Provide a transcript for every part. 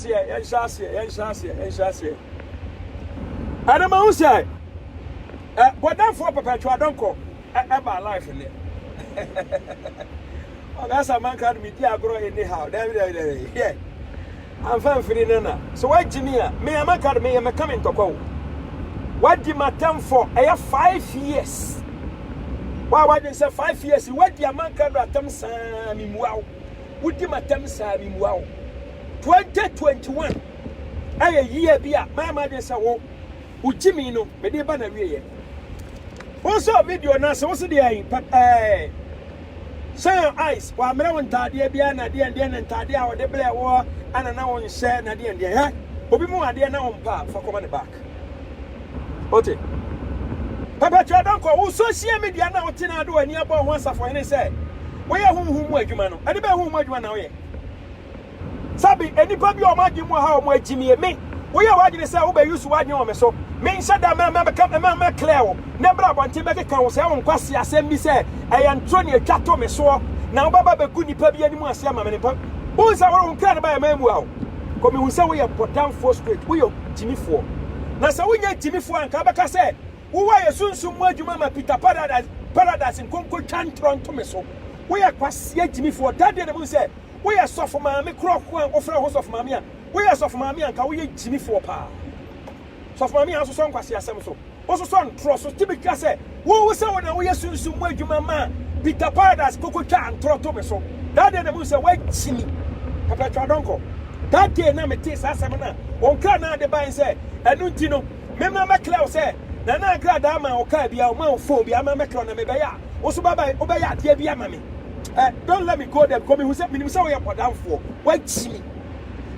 Aseɛ, yɛnhyɛ aseɛ, yɛnhyɛ aseɛ, yɛnhyɛ aseɛ. Ɛna ma ho sɛ, ɛ bɔdɛfoɔ pɛpɛtwa adɔnkɔ ɛ ɛba life nnɛ. Ɔgasa manka no medi agorɔ anyhow, dɛbi dɛbi dɛbi, hwɛ. Amfa mfiri no na, sɛ wagye me a, me a manka no meyɛ mɛka me ntɔkwa o. Wadi m'atɛmfɔ, ɛyɛ five years. Wa wadwen sɛ five years, wadi amanka no atɛm saa, memmua wo. Wodi m'atɛm saa mimua wo. Twenty twenty one ɛyɛ year bi a mayɛ m'adwene sɛ wo wo gyimi no mede ba na wieɛ. Wo sɛ video no ase wo se deɛ ɛn pɛpɛɛ. Shine your eyes wɔammerɛ wo ntaadeɛ biara na deɛn deɛn na ntaadeɛ a wɔde brɛ woɔ ana na wonhyɛ na deɛn deɛn hɛ obi mu adeɛ na wompɛ a fa kɔma ne ba. Ote. Papa Dɔnkɔ, wo social media na wote na ade w'ani abɔ ho asafohene sɛ woyɛ honhom mu adwuma no. Ɛde bɛn honhom mu adwuma na woyɛ? Sɛbe nnipa bi a wɔn adwene mu wɔ ha a wɔn agyimie, me, woyɛ w'adwene sɛ wobɛ use w'adwene wɔ me so, menhyɛ da mɛ, mɛ, mɛka, mɛ, mɛ clear wo, na ɛbrɛ abɔnten bɛkeka wo sɛ wo nkwasi asɛm bi sɛ ɛyɛ ntoro ne atwa to me soɔ, na wobɛba bɛgu nnipa bi anim ase ama me ne papa. Wohu sɛ wore wo nkra no ba yɛ mɛ mua wo, kɔ mehu sɛ woyɛ bɔdamfoɔ straight, woyɛ. gyimifoɔ. Na sɛ wonyɛ gyimifoɔ a, anka wobɛka sɛ wowɔ ayɛ sunsum mu adwuma ma Peter Paradise Paradise nkonko twa ntorɔ nto me so. Woyɛ kwaseɛ gyimifoɔ. Da deɛ na mu sɛ woyɛ sɔfo maame korɔ ko a wofrɛ wo ho sɔfo maame a. Woyɛ sɔfo maame a, anka woyɛ gyimifoɔ paa. Sɔfo maame a asosɔ nkwaseasɛm so. Wososɔ ntorɔ so tumi ka sɛ, Wo, wo sɛ wo na woyɛ sunsum mu adwuma maa Peter Paradise kokotwaa ntorɔ to me so. That day na mehu sɛ woagyi me. Perpetua Donkor. That day na metee saa asɛm no a wo nkranaa de bae sɛ, Ɛno nti no, memmra mmɛklɛ wo sɛ Nana nkradaa maa wo kaa biara, ɔmaa wo phone biara ma mɛklɛ wo na mebɛyɛ a, wo nso babae, wobɛyɛ adeɛ bi ama me. Eh, don't let me go there because mehu sɛ, menim sɛ woyɛ bɔdamfoɔ. Woagyi me.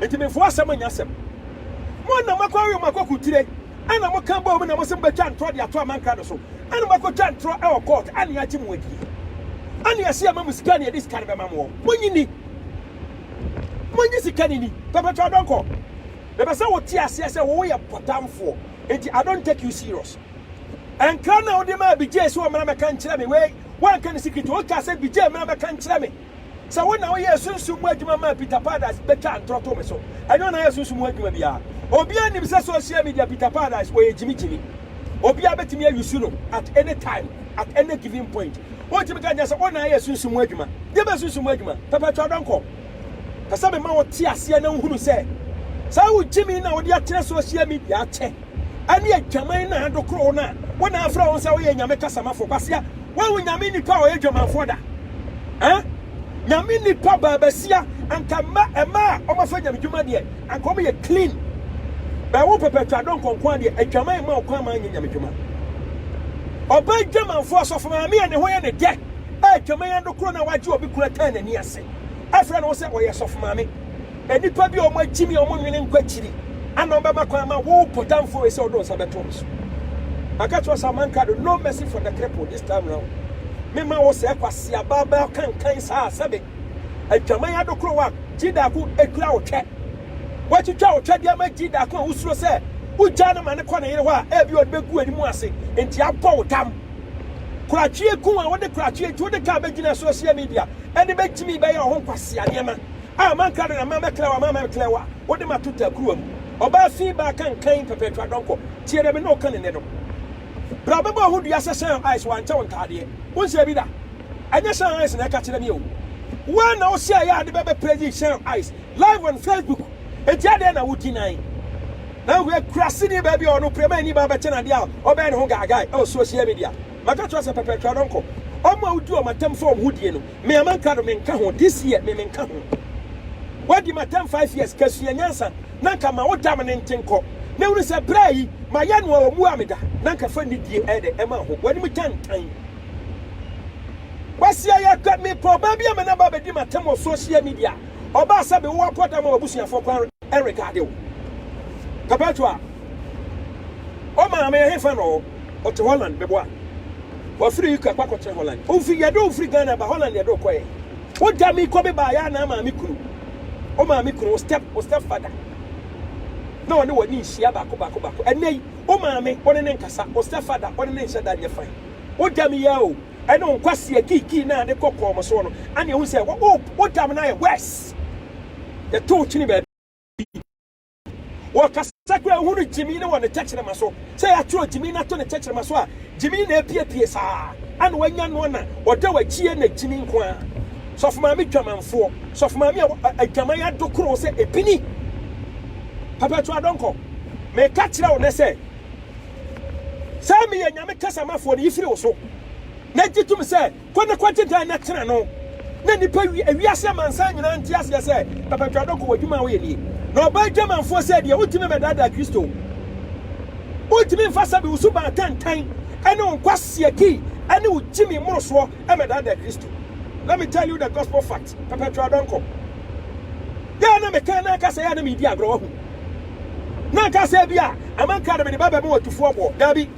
Enti memfa w'asɛm nyɛ asɛm. Mo na moakɔ awe mo akɔkotire. Ɛna mo ka bɔɔ mu na mo se mo bɛtwa ntorɔ de ato amanka no so. Ɛna mo akɔtwa ntorɔ ɛwɔ court ɛna yɛagye mo adie. Ɛna yɛse yɛma mo sika ɛna yɛde sika no bɛma moɔ. Monyi ni. Monyi sika no ni. Pɛpɛtɔ Adɔnkɔ, mepɛ sɛ wo te aseɛ sɛ wo wo yɛ pɔtanfoɔ nti I don't take you serious. Nkra no a wode maa Bijay sɛ ɔmmra mmɛka nkyerɛ me wei, woanka ne secret, wokaa sɛ Bijay mmra mmɛka nkyerɛ me. Sɛ wo na woyɛɛ sunsum mu adwuma maa Peter Paradise bɛtwa antorɔ to me so. Ɛnyɛ ɔna yɛ sunsum mu adwuma biara. Obiara nim sɛ social media Peter Paradise ɔyɛ gyimigyimi. Obiara bɛtumi ayusu no at any time, at any given point. Wontumi ka nkyɛn sɛ wo na ayɛ sunsum mu adwuma. Deɛ bɛyɛ sunsum mu adwuma? Pɛpɛɛtɔ adɔnkɔ. Pɛ sɛ mema wo te aseɛ na wohunu sɛ saa wo gyimi na wode akyerɛ social media akyɛ. ɛne adwaman no a adokoro wo no a wo na afrɛ wo sɛ woyɛ nyame kasamafo kwasia woahu nyame nipa a ɔyɛ dwamanfoɔ da eh nyame nipa baabasia anka mma ɛma a ɔmafa nyame dwuma deɛ anka ɔmo yɛ clean bɛwo mpɛpɛtwa dɔ nkɔnkɔn adeɛ adwaman ma ɔkwan ma anyɛ nyame dwuma ɔba adwamanfoɔ asɔfo maame a ne ho yɛ ne dɛ a adwaman adokoro no a wagye obi kuna taa n'ani ase afrɛ no sɛ ɔyɛ sɔfo maame Nnipa bi a wɔagyimi a wɔnnwene nkɔ akyiri ana wɔbɛma kwan ma wo bɔdamfo wei sɛ ɔde wo nsa bɛto no so. Maka kyerɛ wo sɛ amanka do, no mercy for the cripple this time round. Memma wo sɛɛ kwaseaba bɛa kankan saa sɛbe adwaman adokoro wo a gyidaako akura wo twɛ. Woatwitwa wo twɛdeɛ ama gyidaako a wosuro sɛ wogyaa no ma no kɔ ne yere hɔ a ɛbi ɔde bɛgu w'ani mu ase nti abɔ wo tam. Koratweɛ gu a wode koratweɛ nti wode kaa bɛgyina social media ɛde bɛgyimi bɛyɛ wo ho nkwasea nneɛma A manka dɛn ama mɛklɛ wo, ama mɛklɛ wo a, wode mato takuruwa mu. Ɔbaa fi baa kankan pɛpɛɛtɔ adɔnkɔ, tie dɛ me ne wo ka ne nnɛ no. Bra bɛbɔ wo ho dua sɛ Sean Ice wankyɛ wo ntaadeɛ, wonsɛ bi da. Ɛnyɛ Sean Ice na ɛka kyerɛ me o. Wo ara na wosɛ yɛ ade bɛbɛ praising Sean Ice live on Facebook, enti adɛn na wo deny na wohwɛ akurase ni baabi a ɔno prɛma ani baa bɛkyɛ no adeɛ a ɔbɛyɛ ne ho gaagae ɛwɔ social media. Maka kyerɛ wo sɛ pɛpɛɛtɔ adɔnkɔ, wɔn a wodi wɔn atɛm fa wɔn ho die no, Me a manka no menka ho this year me menka ho Wadi ma tɛm five years ka sua nyansa na nka ma wo dam ne nte nkɔ na hunu sɛ bra yi ma yɛ no a ɔmu a meda na nka fa nidie ɛdɛ ɛma ho w'anim tantan Kwasia yɛ kɛ me pɛ ɔbaa bi ama no aba bɛdi ma tɛm wɔ social media ɔbaa sɛ me wo wapɔ dam a w'abusuafoɔ kwan Eric Adew, Perpetual, Wo maame ɛhefa na ɔwɔ? Ɔte Holland, bɛboa no. Wafiri UK akɔ akɔtena Holland. Wo fi, yɛde wo firi Ghana ba Holland yɛde wo kɔɛ. Wo gya me kɔ me baa yɛ anaa maame kunu? Wo maame kunu, wo step, wo step father na ɔne w'ani nhyia baako baako baako. Ɛnɛ yi, wo maame, wo ne ne nkasa, wo step father, wo ne ne nhyɛ da nyɛ fine. Wo gya me yi ara o. ɛne wo nkwaseɛ kiikii no a ne kɔ kɔɔ mo soɔ no, ɛne ɛhu sɛ wo wo tam no ayɛ worse. Yɛto wo kyene baabi. Wɔkasa kura ehu no gyimi ne wɔ ne tɛkyerɛma so. Sɛ yɛatwerɛ gyimi no ato ne tɛkyerɛma so a, gyimi na epiepie saa. Ɛna wanya noɔ na ɔda w'akyie na gyimi nko ara. Sɔfo maame dwamanfoɔ, sɔfo maame a adwaman adokoro sɛ epini. Papa tu adɔnkɔ, meka kyerɛ wo nɛ sɛ. Sɛ meyɛ Nyame Kasamafoɔ no, yi firi wo so, na gye tom sɛ, Kɔ na kɔgye dan na tena no, na nnipa wi wiase amansan nyinaa nte aseɛ sɛ, Papa-Twa Dɔko, w'adwuma a woyɛ nie. Na ɔbaa adwamanfoɔ sɛ deɛ wontumi mmɛdaadaa Kristo. Wontumi mfa sɛbe wo suban atantan ne wo nkwasiaki ne wo gyimi mmorosoɔ mmɛdaadaa Kristo. Let me tell you the gospel fact, Papa-Twa Dɔnko. Dɛn na mekã na anka sɛ ɛyɛ a na meredi agorɔ? Wahu? Na anka sɛ ebia ama nka na mede ba bɛma ɔtufoɔ boɔ. Dabi.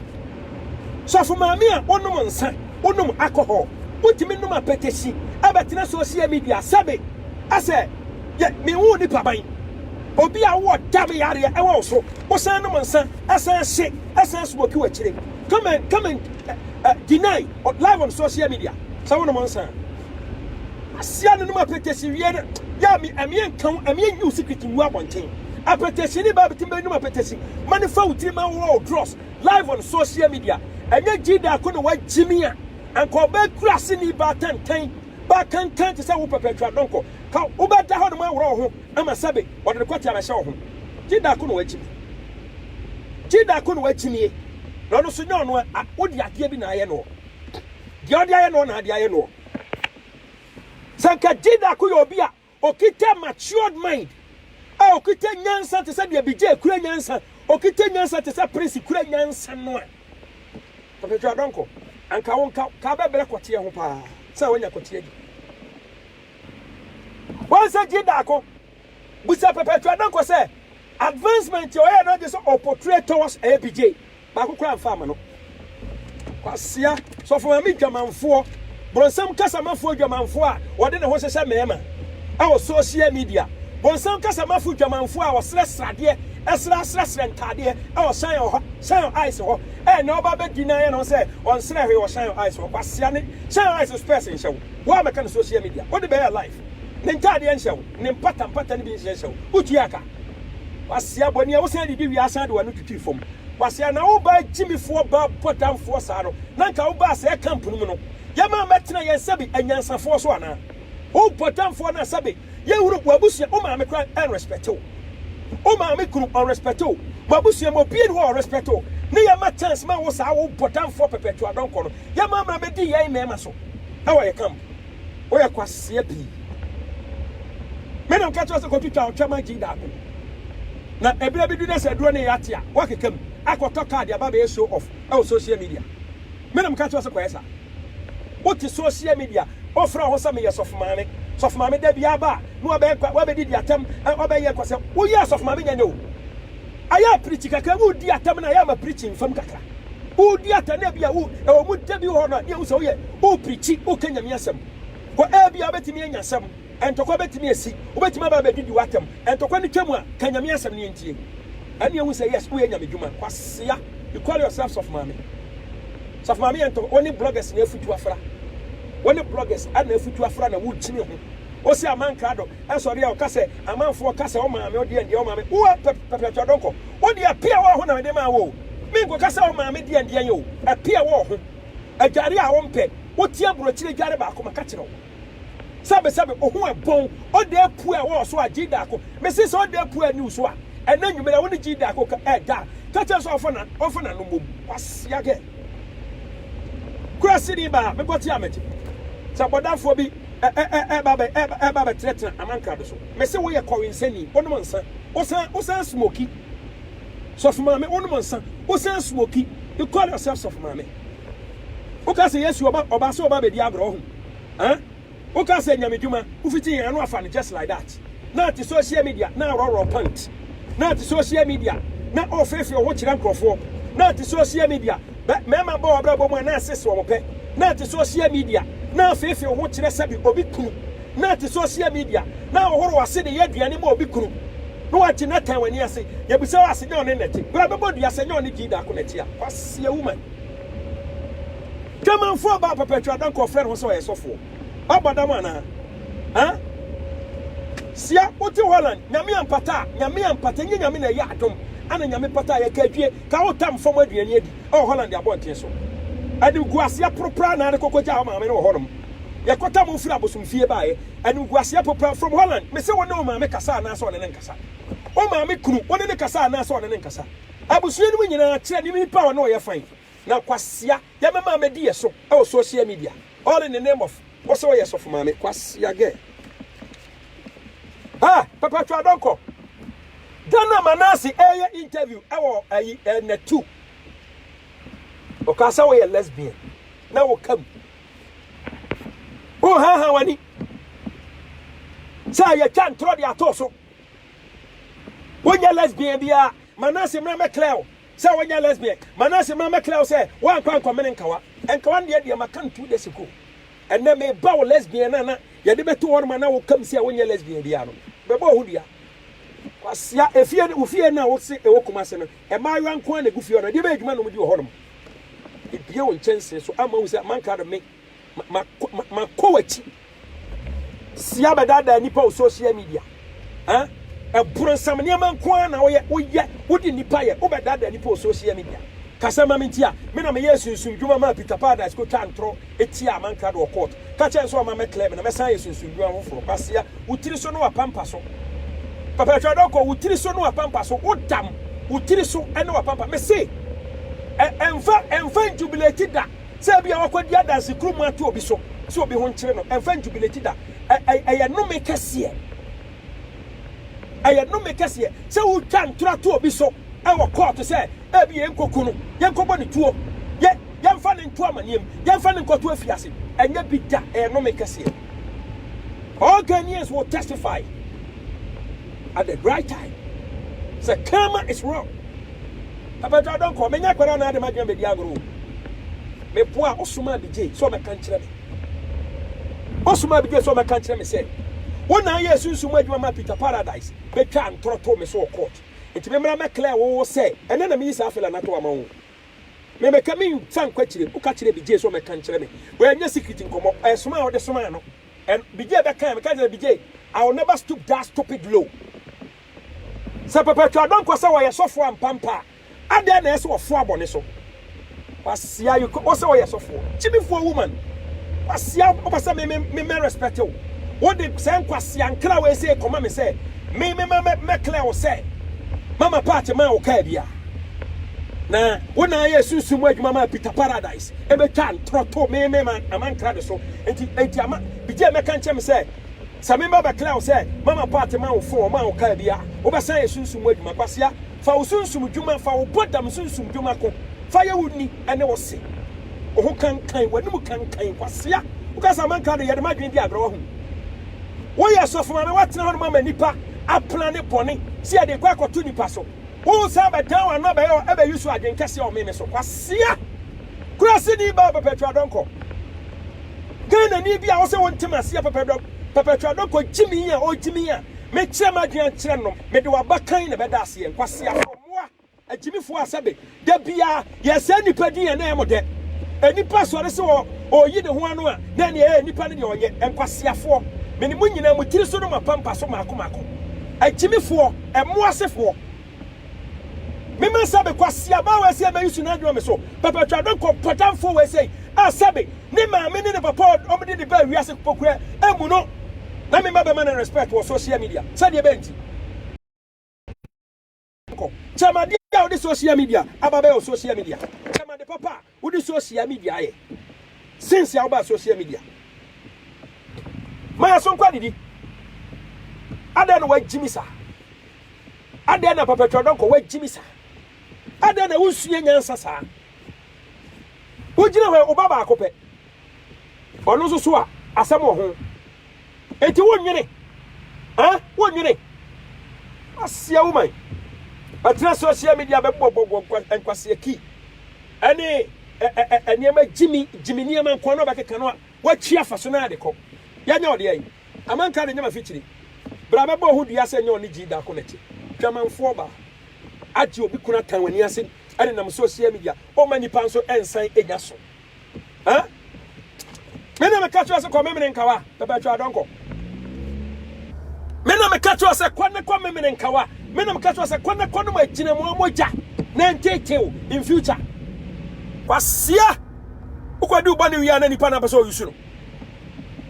Sɔfo maame a wonom nsa, wonom alcohol, wotumi nom apɛtɛsi, abɛtena social media sɛbe asɛ yɛ me woo nipa ban. Obi a wowɔ dam yareɛ ɛwɔ wo so, wosan nom nsa, ɛsan hye, ɛsan smoke wo akyire. Come and come and deny live on social media sɛ wonom nsa. Asia no nom apɛtɛsi wiɛ no yɛ a me ɛmeɛ nka ho ɛmeɛ nyi wo secret ngu abɔnten apɛtɛsi ne baa bitim bɛ nom apɛtɛsi ma ne fa wo tiri ma wo draws live on social media ɛnyɛ gyida ako na wa gyimi a anka ɔbɛ kura se ni baa tantan baa kankan te sɛ wo pɛpɛ atwa dɔnkɔ ka wo bɛ da hɔ nom awura wo ho ama sɛbe ɔde ne kɔte abɛhyɛ wo ho gyida ako na wa gyimi gyida ako na wa gyimie na ɔno so nyɛ ɔno a wo de adeɛ bi na ayɛ no Deɛ ɔde ayɛ noɔ na ade ayɛ noɔ. Sɛ nka Jidaku yɛ obi a okita matured mind, a okita nyansa te sɛ deɛ Bijay kura nyansa, okita nyansa te sɛ Prince kura nyansa no a, Ɔpɛtwa Adɔnkɔ, anka wo nka ka bɛbrɛ kɔteɛ ho paa sɛ wanya kɔteɛ di. Wahu sɛ Jidaku. Bisa Perpetua Dankwa sɛ advancement a ɔyɛɛ no agye sɛ ɔportray towards APJ baako koraa mfa ama no. Kwasea, Sɔfo Maame dwamanfoɔ, bonsam kasamafoɔ dwamanfoɔ a ɔde ne ho hyehyɛ mmarima wɔ social media, bonsam kasamafo dwamanfoɔ a ɔsrɛ sradeɛ, ɛsra asrɛsrɛ ntaadeɛ wɔ Shine Ɔha, Shine Eyes hɔ, ɛnna ɔba abɛdi na ayɛ ne ho sɛ ɔnsrɛ hwee wɔ Shine Eyes hɔ. Kwasea ne Shine Eyes spurs nhyɛ wo. Wo a mɛka no social media wode bɛyɛ live Ne ntaadeɛ nhyɛ wo Ne mpata mpata no bi nhyɛ hyɛ wo Wotua ka Kwasea bɔ nea wosan didi wie asan de w'ano twitwi fam Kwasea na wo baa gyimifoɔ baa bɔdamfoɔ saa no na nka wo baa sɛɛ camp no mu no Yɛma mmɛtena yɛn sɛbe anyansafoɔ so anaa Wo bɔdamfoɔ no a sɛbe yɛhunu w'abusua wo maame kora ɛn respect wo Wo maame kunu ɔn respect wo W'abusua mu obie ni hɔ ɔn respect wo Ne yɛma chance ma wo saa wo bɔdamfoɔ pɛpɛtwa dɔnkɔ no Yɛ mmarima bɛdi yɛn mmarima so wɔ yɛ camp. Wo yɛ kwaseɛ pii. Me na meka kyerɛ sɛ kɔtwitwa wo twɛma gyi daako. Na ɛberɛ bi du na sɛ aduro no yɛ ate a, woakeka mu akɔtɔ kaa de aba abɛyɛ show off wɔ social media. Me na meka kyerɛ sɛ kɔyɛ saa. Wote social media, wofrɛ wo ho sɛ meyɛ sɔfo maame. Sɔfo maame da biara ba a, na wabɛyɛ kwa, wabɛdidi atɛm, wabɛyɛ kwa sɛ woyɛ sɔfo maame nyɛ nyɛ o. Ayɛ apirikyi kakra, wodi atɛm no ayɛ ama pirikyi mfam kakra. Wodi atɛne a ebia wo ɛwɔ mu da bi wɔ hɔ no a ne ɛwosɛ woyɛ woprikyi woka nyame asɛm kɔ ebia wobɛtumi anya asɛm ntɔkwa bɛtumi asi wobɛtumi aba abɛdidi w'atɛm ntɔkwa no twam a ka nyame asɛm ne yɛntie ɛne ɛhu sɛ yes woyɛ nyame dwuma kwasea you call yourself sɔfo maame sɔfo maame yɛ ntɔkwa wɔne bloggers na afutu afra wɔne bloggers ana afutu afra na wokyini ho ɔsɛ amankrado ɛsɔre a ɔka sɛ amanfoɔ ka sɛ ɔmaame ɔdeɛ ndeɛ ɔmaame woa pɛpɛpɛtɔ dɔnkɔ Wo deɛ ɛpe a wɔho na mede maa wo o, menkɔka sɛ wo maame deɛ ndeɛ nyɛ o, ɛpe a wɔho. Adwareɛ a wompɛ, wote aburokyire dware baako maka kyerɛ wo. Sɛbe sɛbe oho ɛbɔn, ɔda apue a wɔwɔ so a gyii daako, mese sɛ ɔda apue a niw so a, ɛnɛ anwumere a wone gyii daako ka ɛ da a, ka kyerɛ sɛ ɔmfa na ɔmfa n'ano mmom. Kwasia gɛ. Kuraseni baa, mebɔ te a megye. Sɛ bɔdamfoɔ bi ɛ ɛ ɛ ɛɛba bɛ ɛɛba ɛɛba bɛtenatena amankrado so, mese woyɛ kɔwensani, wonom nsa. Wosan wosan smoki. Sɔfo maame wonom nsa. Wosan smoki. You call yourself sɔfo maame. Woka sɛ Yesu ɔba ɔba sɛ ɔba bɛdi agorɔ ho. Huh? Woka sɛ nyame dwuma. Wofiti yɛn ano afa no just like that. Na te social media na aworɔworɔ pant. Na te social media na ɔrefeefee wo ho kyerɛ nkurɔfoɔ. Na te social media bɛ mmarima bɔ w'abrabɔ mu a na asese wɔn pɛ. Na te social media na afeefee wo ho kyerɛ sɛbi obi kunu. na ɛte sosia media na ahohoro w'ase de yɛ aduane ma obi kunu na wagye natan w'ani ase yɛbisa wo ase nyɛ ɔne nɛte bra bɛbɔ dua sɛ nyɛ ɔne gyii daako nɛte a kwasia woman Germanfoɔ aba a perpetual ada nka ɔfrɛ ne ho sɛ ɔyɛ sɔfoɔ ɔbɔ dam anaa ha sia wote Holland nyame ampata a nyame ampata nyɛ nyame na ɛyɛ adom ana nyame pata a yɛka adwie ka wo tam fam aduane adi ɛwɔ Holland abɔnten so ɛde gu aseɛ poropora na ade kɔkɔgya wo maame no wɔ hɔnom Yɛkɔtaa mo firi abosomfie baeɛ. Animguaseɛ popa from Holland Mese wo ne wo maame kasa anaasɛ ɔne no nkasa. Wo maame kunu, wo ne no kasa anaasɛ ɔne no nkasa. Abusua no mu nyinaa kyerɛ ne nipa a ɔne wo yɛ fine. Na Kwasea yɛmɛma abɛdi yɛ so wɔ social media all in the name of wo sɛ woyɛ sɔfo maame. Kwasea girl. Ah! Papa Twa Donkor. Da no a Manase reyɛ interview wɔ ayi eh, Natu. Ɔkaa sɛ woyɛ lesbian na woka mu. Wonhaahaa w'ani sɛ yɛatwa ntorɔ de ato so. Wonyɛ lesbian biara. Manase mmra mɛklɛ wo sɛ wonyɛ lesbian. Manase mmra mɛklɛ wo sɛ woankɔ ankɔmene nkawa. Nkawa no deɛ deɛ maka no two days ago. Ɛnnɛ meba wo lesbian no a na yɛde bɛto hɔ no ma na wokam sɛ wonyɛ lesbian biara no. Bɛbɔɔ ho dua. Kwasea, efie no, wo fie no a wose ɛwɔ Kumase no, Mmaayewa nko ara na egu fie hɔ no, ɛdeɛ bɛyɛ adwuma na wɔdi wɔ hɔnom? Ebue wo nkyɛnsee so ama wohu sɛ manka de me makɔ ma, ma, ma w'akyi. Si abɛdaadaa nnipa wɔ social media. Eh? Ɛboronsam nneɛma nko ara na woyɛ, woyɛ, wode nnipa yɛ, wobɛdaadaa nnipa wɔ social media. Kasa ma me nti a, me na meyɛɛ sunsum dwuma maa Peter Paradise kɔtwaa ntorɔ Etia a manka do wɔ court. Ka kyerɛ no sɛ ɔmma mɛ clear me na mɛsan ayɛ sunsum ndwuma foforɔ. Kwasia, wo tiri so ne w'apampa so. Papa twa dɔkɔ, wo tiri so ne w'apampa so. Wo dam, wo tiri so ne w'apampa. Me se, ɛ, ɛnfa, ɛnfa njubileti da sɛ ebia wakɔ di adanse kuro mu ato obi so, sɛ obi ho nkyere no. Ɛnfa njubileti da. Ɛ, ɛ, ɛyɛ nome kɛseɛ. Ɛyɛ nnome kɛseɛ sɛ wotwa ntorɔ to obi so wɔ kɔɔto sɛ ebia yɛnkɔku no, yɛnkɔbɔ no tuo, yɛ, yɛmfa no nto amanneɛ mu, yɛmfa no nkɔto afiase. Ɛnyɛ bi da, ɛyɛ nnome kɛseɛ. All Ghanaians will testify at the right time sɛ karma is wrong. Abɛdwa adɔnkɔ, menya akwadaa na ade m'adwene bɛdi agorɔ o. Meboa a ɔsomaa me gyee sɛ ɔmmɛka nkyerɛ me. Ɔsomaa me bio sɛ ɔmmɛka nkyerɛ me sɛ, Wo na ayɛ sunsum mu adwuma maa Peter Paradise betwaa ntorɔ too me so wɔ court. Enti memmra mmɛklɛɛ wo wo sɛ ɛnnɛ na meyi saa fela no ato ama wo. Memmɛka mensan nkɔ akyire. Woka kyerɛɛ Bijay sɛ ɔmmɛka nkyerɛ me. Wɔanyɛ secret nkɔmmɔ. Ɛsomaa a wode somaa no, ɛno, Bijay bɛkaeɛ. Mekaa sɛ, Bijay, I will never stoop that stupid low. Sɛ papa Atwa Donkor sɛ ɔyɛ sɔfoɔ ampa mpa a, Adɛn na ɛyɛ sɛ wɔfoa bɔne so? Kwasia you ko wosɛ woyɛ sɔfoɔ gyimifoɔ woman kwasia wopɛ sɛ me me mɛ respect wo wode sɛ nkwasia nkra wei sɛ kɔma me sɛ me me mɛ mɛ clear wo sɛ mama part ma wo kaa bia na wo na ayɛ sunsun mu adwuma ma Peter Paradise ebe twa ntorɔ to me me ma ama nkra ne so nti nti ama bigye mɛ ka nkyɛm sɛ sɛ me mɛ bɛ clear wo sɛ mama part ma wo fo ma wo kaa bia wobɛsan yɛ sunsun mu adwuma kwasia Fa wo sunsum dwuma, fa wo bɔdam sunsum dwuma ko, fa yɛ wo ni ne wo se ho kankan, w'anom kankan, kwasea, woka sɛ amanka de yɛde m'adwene di agorɔ, wahu? Woyɛ sɔfo maame, woatena hɔ nom ama nnipa apena ne bɔne sɛ yɛde rekɔ akɔto nnipa so, woresan bɛdan w'ano abɛyɛ hɔ ɛbɛyi so adwene kɛseɛ wɔ me me so, kwasea, kuraseni baa Perpetua Donkor, Ghanani bi a wosɛ wonte m'aseɛ, Perpetua Donkor gyimi a ɔgyimi a mekyerɛ m'adwene akyerɛ nom. Mede w'abakan na ɛbɛda aseɛ, nkwaseafoɔ mmoa, agyimifoɔ asabe. Da biara, yɛsɛe nnipa din a na ɛyɛ mo dɛ. Onipa sɔre sɛ ɔreyi ne ho ano a, na ɛnneɛ ɛyɛ nnipa no deɛ ɔnyɛ. Nkwaseafoɔ, me ne mo nyinaa, mo tiri so ne mo apampa so mmaako mmaako. Agyimifoɔ, mmoa sefoɔ. Mema sabe, kwaseabaa wei sɛ mɛyi su no adwuma me so. Pɛpɛtwadɔnkɔ, pɔtamfoɔ wei sɛ. a sɛbe ne maame ne ne papa a wɔde ne baa wiase kpokura mu no na me mma bɛma no respect wɔ social media. Sɛdeɛ ɛbɛyɛ nti, kyɛm adeɛ a wode social media aba bɛyɛ wɔ social media, kyɛm ade papa a wode social media ayɛ since a wobaa social media. Ma yɛn so nkɔ adidi. Adɛn na woagye me saa? Adɛn na Papa Twerɛdɔnkɔ woagye me saa? Adɛn na wonsua nyansa saa? Wogyina hɔ a, wo ba baako pɛ. Ɔno nso so a, asɛm wɔ ho. Enti wonnwene, eh, wonnwene. Asia woman bɛtena social media bɛbobɔbobɔ nkwasea kii ɛne ɛ, ɛ, ɛ, nneɛma gyimi, gyimi nneɛma nko na ɔbɛkeka no a, watwi afa so na de kɔ. Yɛnyɛ ɔde ayi. Amanka de nyɛ mafikyiri. Bra bɛbɔ ho dua sɛ nyɛ ɔne gyii daako na ɛte. Dwamanfoɔ baa. Agye obi kunu atan w'ani ase. ɛdenam social media ɔma nnipa nso nsan nya so ah me na meka kyerɛ sɛ kɔ memene nkawa pɛpɛ atwa adɔnkɔ me na meka kyerɛ sɛ kɔ ne kɔ memene nkawa me na meka kyerɛ sɛ kɔ ne kɔ nom agyina mu amogya na ntetew in future kwasia wokɔdi wobɔ ne wia na nipa na pɛ sɛ ɔyusu no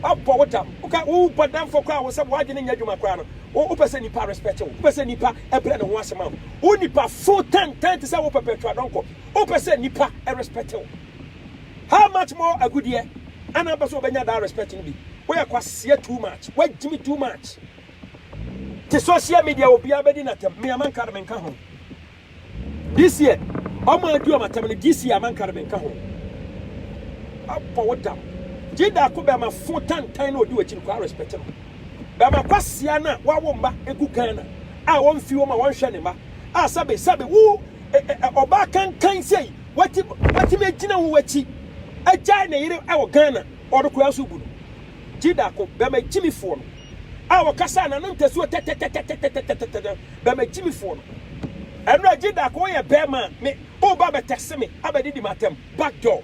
Ɔbɔ wo dam. Woka wo bɔdamfo koraa a wo sɛ w'adwene nyɛ adwuma koraa no, wo wopɛ sɛ nipa respect wo. Wopɛ sɛ nipa brɛ ne ho ase ma wo. Wo nipa fo tantan te sɛ wo pɛpɛtwa dɔnkɔ. Wopɛ sɛ nipa respect wo. How much more agudeɛ ɛna wopɛ sɛ wobɛnya that respect no bi. Woyɛ kwaseɛ too much. Woagyimi too much. Te social media obiara bɛdi n'atɛm. Me Amanka de menka ho. This year ɔmo adi ɔmo atɛm no this year amanka no menka ho abɔ wo dam gye daako bɛma fo tantan na odi wakyi no koraa respect no bɛma kwasia na wawo mma egu Ghana a wɔmfi wɔn a wɔnhwɛ ne mma a sɛbe sɛbe wo ɔbaa kankan sei wati watimi agyina wo wakyi agyae ne yere a wɔ Ghana ɔdo koraa so bu no gye daako bɛma gyimifoɔ no a wɔkasa na no ntasuo tɛtɛtɛtɛtɛtɛtɛtɛtɛ bɛma gyimifoɔ no. Ɛno a gye Darko yɛ bɛɛma a me o ba bɛ tɛse me abɛ didi m'atɛm back door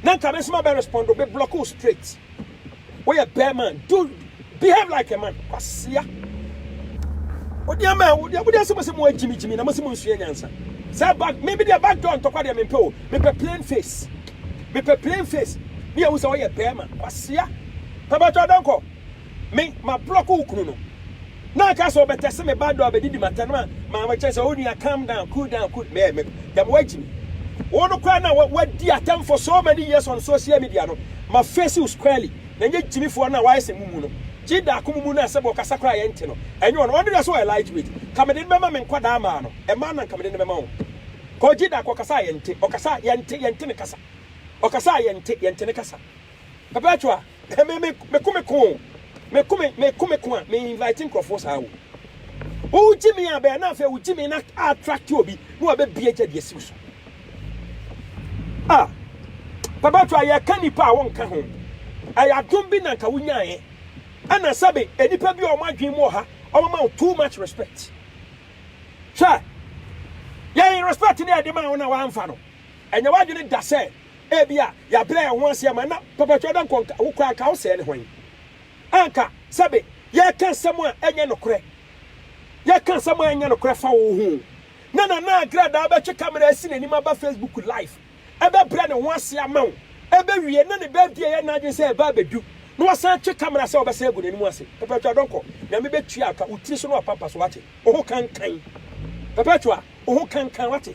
na nka me nso ma bɛ respond o bɛ block o straight wo yɛ bɛɛma do behave like a man kwasia wo deɛ mɛ wo deɛ wo deɛ se mo se mo agyimi gyimi na mo se mo nsua nyansa sɛ back me bi deɛ back door ntɔkwa deɛ me mpɛ o me pɛ plain face me pɛ plain face ne yɛ wo sɛ wo yɛ bɛɛma kwasia pɛ bɛ tɔ dɔnkɔ Me, mablɔk wo kunu no. Na ɔka sɛ ɔbɛtɛse me ba do abɛdidi m'atɛn ma ma mekyerɛ sɛ wo nua calm down, cool down, cool mɛɛ me dɛm woagye me. Wo no koraa na woadi atɛm for so many years on social media no, ma face wo squarely na nyɛ gyimifoɔ no a wayɛ sɛ mumu no. Gye daako mumu no a sɛbɛ ɔkasa koraa a yɛnte no, ɛnyɛ ɔno. Ɔno deɛ sɛ ɔyɛ lightweight, nka mede no bɛma me nkwadaa mmaa no, mmaa no na nka mede no bɛma wɔn. Kɔ gye daako ɔkasa a yɛnte, ɔkasa a yɛnte, yɛnte ne kasa. Ɔkasa a yɛnte, yɛnte ne kasa. Perpetual. Hɛ me me me ko me ko o me ko me me ko me ko a me invite nkorɔfoɔ saa o wo gye me a bɛɛ na afei wo gye me na attract obi na wabɛbie gya de asi wo so ah papa to a yɛka nipa a wɔnka ho ɛyɛ adom bi na nka wonyaeɛ ɛna sɛbe nnipa bi a wɔn adwene mu wɔ ha wɔn ma wo too much respect hwɛ yɛn respect ne yɛde ma wo na wɔamfa no ɛnyɛ w'adwene da sɛ Ebia yɛabrɛ yɛn ho ase ama no. Papa Twa Dankwa, nka wo koraa anka wo sɛɛ ne hwan? Anka, sɛbe, yɛreka nsɛm a ɛnyɛ nokorɛ. Yɛreka nsɛm a ɛnyɛ nokorɛ fa wo ho. Na Nana Agradaa bɛtwe kamera asi n'anim aba Facebook live, ɛbɛbrɛ ne ho ase ama wo. Ɛbɛwie, na ne birthday a ɛyɛ n'adwene sɛ ɛreba abɛdu, na wasan atwe kamera sɛ ɔbɛsan agu n'anim ase. Papa Twa Dankwa, Nyame bɛtua ka, wo tiri so na wapampa so, wate? Wo ho kankan. Papa Twa, wo ho kankan, wate?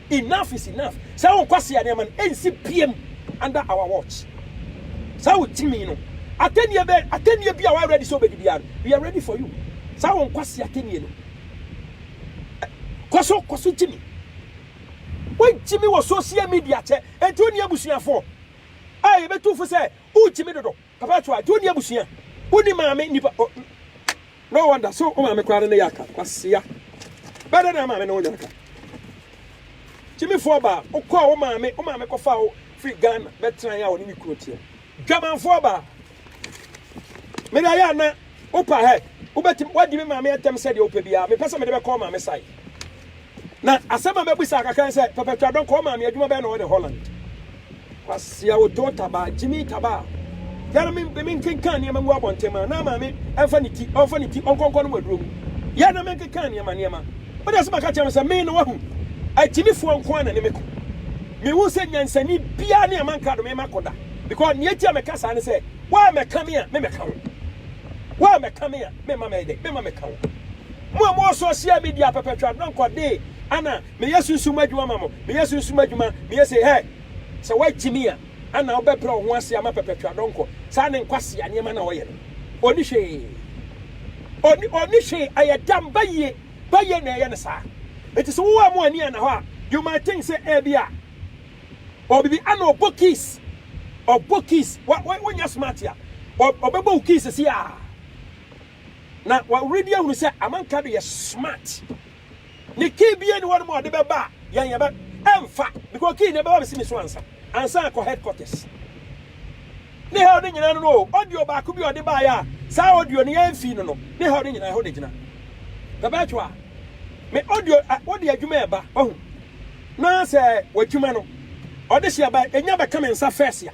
Enough is enough saa wo nkwasea nneɛma no ɛnsi biam under our watch saa wo timi no atɛnnie bɛ atɛnnie bi a wa ready sɛ obɛdi biara no we are ready for you saa wo nkwasea atɛnnie no kɔso kɔso gyimi wo gyimi wɔ social media kyɛ ɛnti wo ne abusuafoɔ a yɛbɛtu fo sɛ wo gyimi dodo Papa to a nti wonni abusua wonni maame nnipa oh no wonder so wo maame koraa no ne yɛ aka kwasea bɛɛ dɛ na maame ne wo nyɛ aka gyimifoɔ baa wokɔɔ wo maame wo maame kɔfa wo firi Ghana bɛtraeɛ a wɔne ne kunu teɛ dwamanfoɔ baa mede ayɛ ana wopa hɛ wobɛtim wadi me maame atɛm sɛdeɛ wopɛ biara mepɛ sɛ mede bɛkɔ wo maame sae Na asɛm a mɛbisa kakra ne sɛ, Papa Twadɔn, kɔɔ maame, adwuma bɛn na ɔyɛ ne Holland? Kwasea Otoo Tabaa, Gyimii Tabaa, Yɛre me me nkenkan nneɛma ngu abɔnten ma na maame mfa ne ti, ɔmfa ne ti ɔnkɔnkɔ nom aduro mu. Yɛre na menkenkan nneɛma nneɛma. Wo deɛ sɛ maka kyerɛ me sɛ, me no wahu, agyimifoɔ nko ara na ne me ko. Mehu sɛ nyansani biara ne aman krado mema ko da. Because nea enti a meka saa ne sɛ, woammɛka me a, me mɛka wo. Woammɛka me a, memma mɛyɛ dɛn? Memma mɛka wo. Mo a mowɔ social media perpetual no nkɔ dee ana meyɛ sunsum adwuma ma mo meyɛ sunsum adwuma meyɛ sei hɛ sɛ wagye me a ana wo bɛbrɛ wo ho ase ama perpetual dɔnkɔ saa ne nkwasea nneɛma na ɔyɛ no ɔni hwee ɔni ɔni hwee ɛyɛ dam bayie bayie na ɛyɛ no saa nti sɛ wowɔ a mo ani ana hɔ a you might think sɛ ɛbi a ɔbibi ana ɔbɔ keys ɔbɔ keys wa wonyɛ smart a ɔbɛbɔ wo keys si a Na wɔredi ahunu sɛ amanka de yɛ smart ne key bia ni wɔnom a ɔde bɛba a yɛn yɛbɛ ɛmfa because key ne bɛba bɛsi me so ansa ansa akɔ headquarters ne hell ne nyinaa no no audio baako bi ɔde baayɛ a saa audio ne yɛn fii no no ne hell ne nyinaa ɛhɔ de gyina pɛpɛɛtwo a me audio wɔde adwuma ɛba wahu na sɛ wadwuma no ɔde hyɛ ba ɛnya bɛka me nsa fɛs a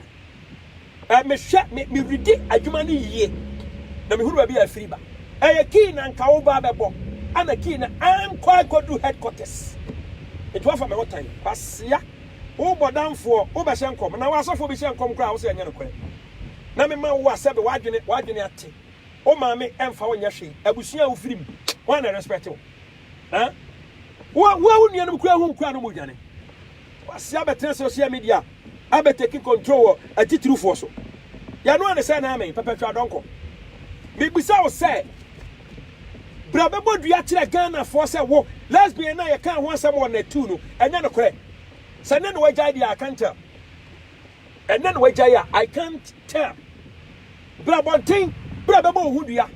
Eh, mehwɛ, me, meredi adwuma no yie, na mehunu baabi a afiri ba. Ɛyɛ kii na nka wo ba bɛbɔ, ɛna kii na ankɔ akɔdu headquarters. Nti woafa me ho tan, kwasea. Wo bɔdamfoɔ, wobɛhyɛ nkɔm, na w'asɔfoɔ bi hyɛ nkɔm koraa a wo sɛ ɛnyɛ nokorɛ. Na mema wo a sɛbe w'adwene, w'adwene ate. Wo maame ɛmfa wo nyɛ hwee, abusua a wofiri mu, wɔn na ɛrespɛte wo. Eh, wo a, wo a wo nuanom koraa hu nkoraa no ma odwane. Kwasea bɛtena social media. abɛtake control wɔ atitirifoɔ so. Yanoa ne sɛ naa me, Pɛpɛ hwɛ adɔnkɔ. Mebisa wo sɛ, bra bɛbɔ dua kyerɛ Ghanafoɔ sɛ wo, lesbian no a yɛkaa ho asɛm wɔ Nat two no, ɛnyɛ nokorɛ. Sɛ ɛnnɛ na wagyae deɛ a, I can't tell. Ɛnnɛ na wagyae a, I can't tell. Bra abɔnten, bra bɛbɔ wo ho dua.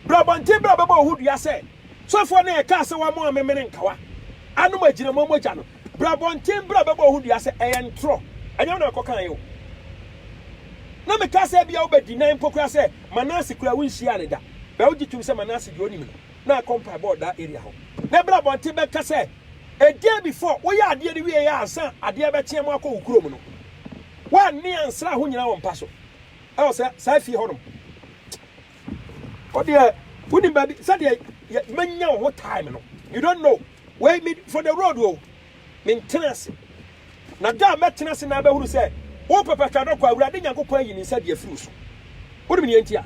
Bra abɔnten, bra bɛbɔ wo ho dua sɛ, sɔfoɔ no a yɛkaa sɛ wamɔ amemene nkawa, anom agyinamoa mogya no, Bra abɔnten bra bɛbɔ ho dua sɛ ɛyɛ ntorɔ, ɛnyɛ wo na mekɔkaeɛ o. Na mekaa sɛ ebia wobɛdi, na mpo koraa sɛ Manase koraa wonhyiaa no da. Bɛ wogye tom sɛ Manase deɛ ɔnim no, na akɔ mpaebɔ wɔ daa area hɔ. Na bra abɔnten bɛka sɛ a day before woyɛ adeɛ no wieeɛ ansa adeɛ bɛkye ama woakɔ wo kurom no, woanne ansra ho nyina wo mpa so ɛwɔ sɛ saa fie hɔ nom. Wodeɛ wonim baabi sɛdeɛ manya wo ho time no, you don't know. Wei me for the road o, me ntena ase. Na da a mɛtena ase na abɛhunu sɛ wo papa twa adɔkɔ a, Awurade Nyankopɔn ayi ne nsa de afiri wo so. Wonim nea nti a?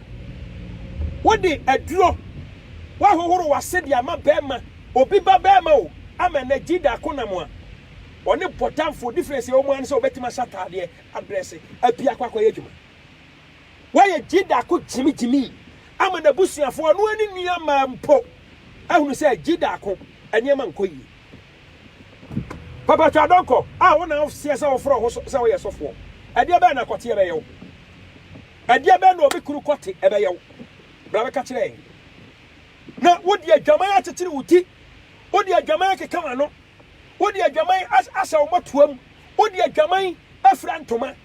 Wode aduro, woahohoro w'ase de ama barima, obi ba barima o, ama ɛnɛ Gida ako nam a ɔne bɔdamfoɔ, difference a ɛwɔ mu ara ne sɛ ɔbɛtumi ahyɛ ataadeɛ, adrɛse, apue akɔ akɔyɛ adwuma. Wayɛ Jidda ko gyimigyimi ama n'abusuafoɔ, ɔno ara ne nua mmaa mpo ahunu sɛ Jidda ko nneɛma nkɔ yie. Papa Twah Donkor, a wo na woseɛ sɛ wofrɛ wo ho sɛ woyɛ sɔfoɔ, ɛdeɛ bɛn na kɔteɛ bɛyɛ wo? Ɛdeɛ bɛn na obi kunu kɔte bɛyɛ wo? Bra bɛka kyerɛ yɛn. Na wode adwaman akyekyere wo ti, wode adwaman akeka w'ano, wode adwaman ahyɛ wo mmɔtoam, wode adwaman afira ntoma,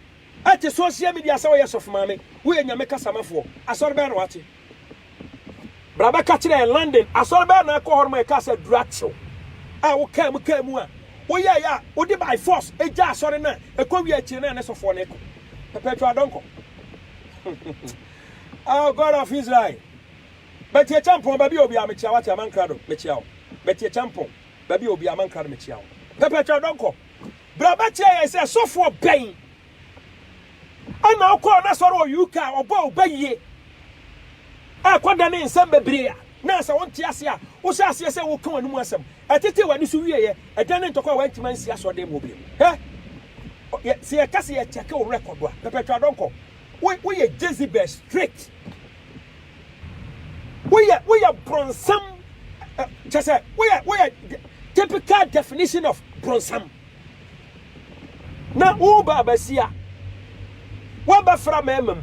Ɛte social media sɛ woyɛ sɔfo maame, woyɛ Nyame kasamafoɔ, asɔre bɛn na wate? Bra bɛka kyerɛ yɛn, London asɔre bɛn na ɛkɔ hɔ nom a yɛkaa sɛ aduru akyew a wokaa mu kaa mu a woyɛeɛ a wode by force ɛgya asɔre no a ɛkɔ wie akyire no a ne sɔfoɔ no ɛkɔ perpetual dɔnkɔ Oh God of Israel Betty Acheampong baabi a obiara mekyia wate amankrado mekyia wo Betty Acheampong baabi a obiara amankrado mekyia wo perpetual dɔnkɔ Bra bɛkyerɛ yɛn sɛ sɔfoɔ bɛn ɛna ɔkɔɔ n'asɔre wɔ UK a ɔbɔɔ wo ba yie a kɔdane nsɛm bebree a na sɛ wonte ase a wohyɛ aseɛ sɛ woka w'ani mu asɛm ɛtetee w'ani so wieeɛ ɛdane ntɔkwa a wantumi ansi asɔreden mu bio hɛ sɛ yɛka sɛ yɛkyɛke wo rekɔdo a pɛpɛtwa dɔnkɔ woyɛ Jezebel straight Woyɛ woyɛ bronsam kyɛ sɛ woyɛ woyɛ typical definition of bronsam na wo baabasia wabɛfra mɛɛma mu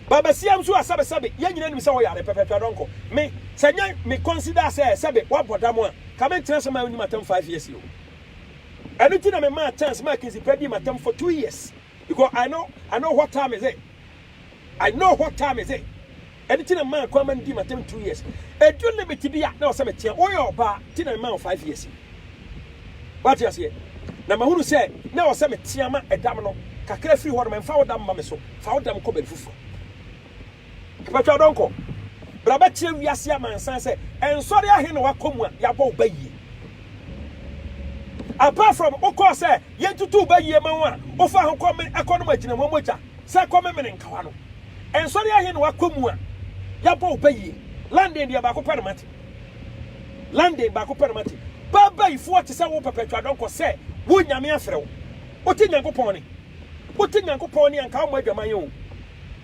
baabasia nso a sɛbe sɛbe yɛn nyina nim sɛ wɔyare pɛpɛpɛ dɔnkɔ me sɛ nyɛ me consider sɛ sɛbe wabɔ dam a ka me ntena sɛ ma wonim atam five years o ɛno ti na me maa chance maa kinsi pɛ di matam for two years Because I know I know what time is it I know what time is it ɛno ti na mmaa nkɔ ama no di matam two years ɛdu limit bi a na ɔsɛ meteɛ woyɛ ɔbaa ti na mmaa wo five years wate aseɛ na mahunu sɛ na ɔsɛ meteɛ ma ɛdam no kakra firi hɔ no mfa wo dam ma me so fa wo dam kɔ baabi foforɔ Mpatwa dɔnkɔ, bra bɛkyerɛ wiase amansan sɛ nsɔre ahe na wakɔ mu a yɛabɔ wo bayie. Apart from wokɔɔ sɛ yɛntutu wo bayie ma wo a wofaa ho kɔ me ɛkɔ nom agyinamoa mogya sɛ kɔ me mene nkawa no. Nsɔre ahe na wakɔ mu a yɛabɔ wo bayie. London deɛ baako pɛ na mate. London baako pɛ na mate. Baabayifoɔ te sɛ wo Perpetua Donkor sɛ wo Nyame afrɛ wo. Wote Nyankopɔn ne. Wote Nyankopɔn ne a nka wommɔ adwaman o.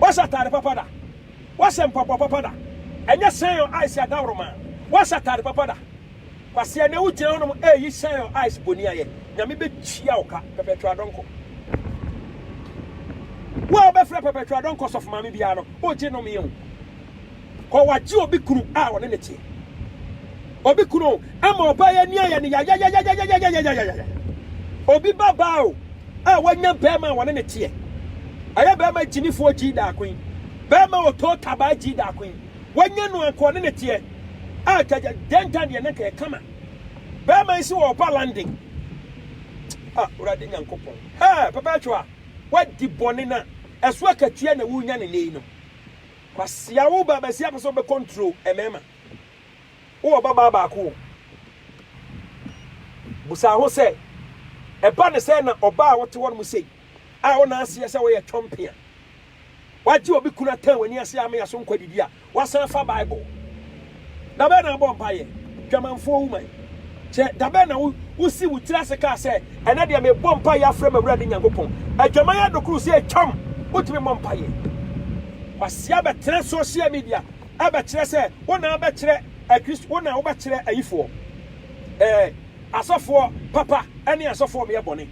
Woahyɛ atade papa da? Woahyɛ mpaboa papa da? Ɛnyɛ Sion Ice adaworoma. Woahyɛ atade papa da? Kwasea, ɛnnɛ wogyina hɔnom reyi Sion Ice boniayɛ. Nyame bɛtua wo ka, Perpetual Donkor. Wo a wobɛfrɛ Perpetual Donkor sɔfomaame biara no, wogye nomee o. Kɔ wagye obi kunu a ɔne no teɛ. Obi kunu o, ama ɔbaa yi ani ayɛ no yayayayayayayayayayayaya. Obi ba baa o, a wanya bɛɛma a wɔne no teɛ. Ɛyɛ bɛɛma gyimifoɔ gyii daako yi. Bɛɛma otoo tabaa gyii daako yi. Wanya no anka ɔne no teɛ. A gyagya dɛntan deɛ nanka yɛ kama. Bɛɛma yi se ɔɔba London. A Wurade Nyankopɔn. Hɛɛ pɛpɛɛtwoa, wadi bɔne na ɛso akatua na wunya no nnɛ yi no. Kwasia wo ba basia pɛ sɛ wo bɛ kɔntro ɛmɛɛma wo wɔ ba baa baako o busa ho sɛ ɛba ne sɛ na ɔba a wote hɔ no mu sei a wo na aseɛ sɛ woyɛ twɔmpe a wagye obi kunu atɛn w'ani ase a ama yɛ so nkɔ didi a wasan fa bible Da bɛn na abɔ mpaeɛ? Dwamanfoɔ woman. Kyɛ, da bɛn na wo, wo si wo tiri ase kaa sɛ, Ɛnnɛ deɛ mebɔ mpaeɛ afrɛ m'Awurade Nyankopɔn? Adwaman adokoro sɛ atwam, wotumi mmɔ mpaeɛ. Wasi abɛtena social media abɛkyerɛ sɛ wo na abɛkyerɛ Akristo, wo na wobɛkyerɛ ayifoɔ. Ɛɛ. Asɔfoɔ papa ne asɔfoɔ ɔmyɛ bɔne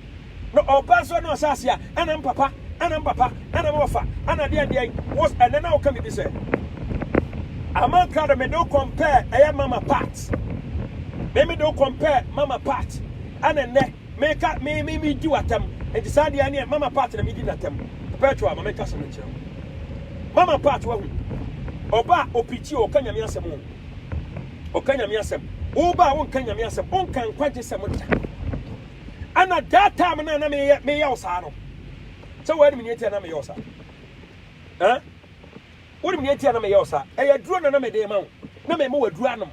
na ɔba nso na ɔhyɛ aseɛ a ɛna mpapa ɛna mpapa ɛna mɔfa ɛna deɛn deɛn wos ɛnɛ na woka bibi sɛ aman krado mede wo compare ɛyɛ mama part me mede wo compare mama part ɛna nnɛ meka me me me di watam nti saa deɛ neɛ mama part na medi natam perpetua ma meka sɛm nkyerɛ mama part wahu ɔba opikyi ɔka nyame asɛm o Ɔka Nyame asɛm. Woba a wonka Nyame asɛm, wonka nkwagye sɛm da. Ɛna that time no a na meyɛ meyɛ wo saa no, sɛ woanim nea ɛtia na meyɛ wo saa. Ɛn? Wonim nea ɛtia na meyɛ wo saa. Ɛyɛ aduro na na mede ma wo. Na mema w'aduro anom.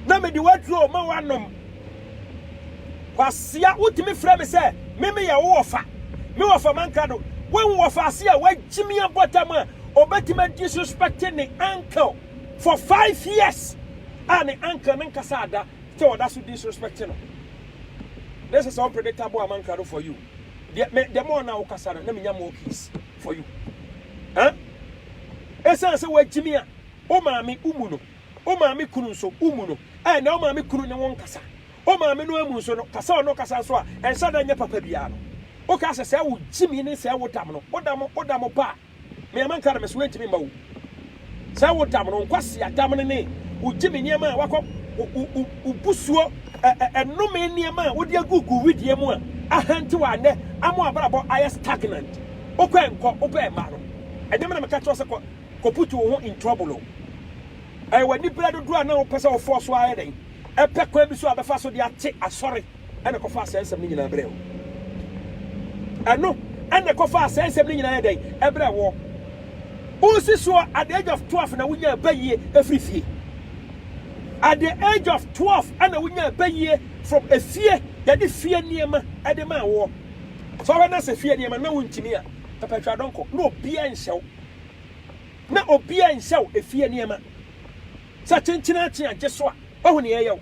Na mede w'aduro ma w'anom. Kwasea, wotumi frɛ me sɛ me meyɛ wo wɔfa. Me wɔfa mankra do. Woahu wɔfa ase a wagyimi abɔtam a ɔbɛtumi a disrespect ne uncle. for five years a ne uncle no nkasa ada sɛ ɔda so disrespect no this is unpredictable amankado for you deɛ me deɛ mo ɔna wokasa no na menya more keys for you eh ɛsan sɛ wagyimi a o maame umu no o maame kunu nso umu no eh na o maame kunu ne wo nkasa o maame no amu nso no kasa ɔno kasa nso a ɛnhyɛ da nyɛ papa biara no woka sɛ sɛ wo gyimi ne sɛ wodam no wodam wodam paa Me a manka no, me so antumi mma wo. Sɛ wo damene, wo nkwasea damene ne wo gyimi nneɛma a woakɔ, wo busuo nnome nneɛma a wode agu gu wedeɛ mu a ahantew a nnɛ ama w'abrabɔ ayɛ stagnant. Wokɔ nkɔ, wopɛ mma no. Ɛnyɛ me na meka kyerɛ wo sɛ kɔ kɔputu wo ho in trouble o. Ɛyɛ w'aniberɛ dodoɔ a na wopɛ sɛ wofɔɔ so ara yɛ dɛn, pɛ kwan bi so a bɛfa so de ate asɔre. ɛna ɛkɔfaa saa nsɛm no nyinaa brɛɛ wo. Ɛno ɛna ɛkɔfaa saa nsɛm no nyinaa yɛ dɛn? Ɛbrɛɛ woɔ. Wosi soɔ at the age of twelve na wonyaa bayie ɛfiri fie. At the age of twelve ɛna wonyaa bayie from efie, yɛde fie nneɛma ɛde maa woɔ. So ɔhwɛ na sɛ fie nneɛma na wontumi a, papa twa dɔnkɔ, na obiara nhyɛ wo. Na obiara nhyɛ wo efie nneɛma. Sɛ kyenkyen akye a gye so a, wahu nea ɛyɛ wo.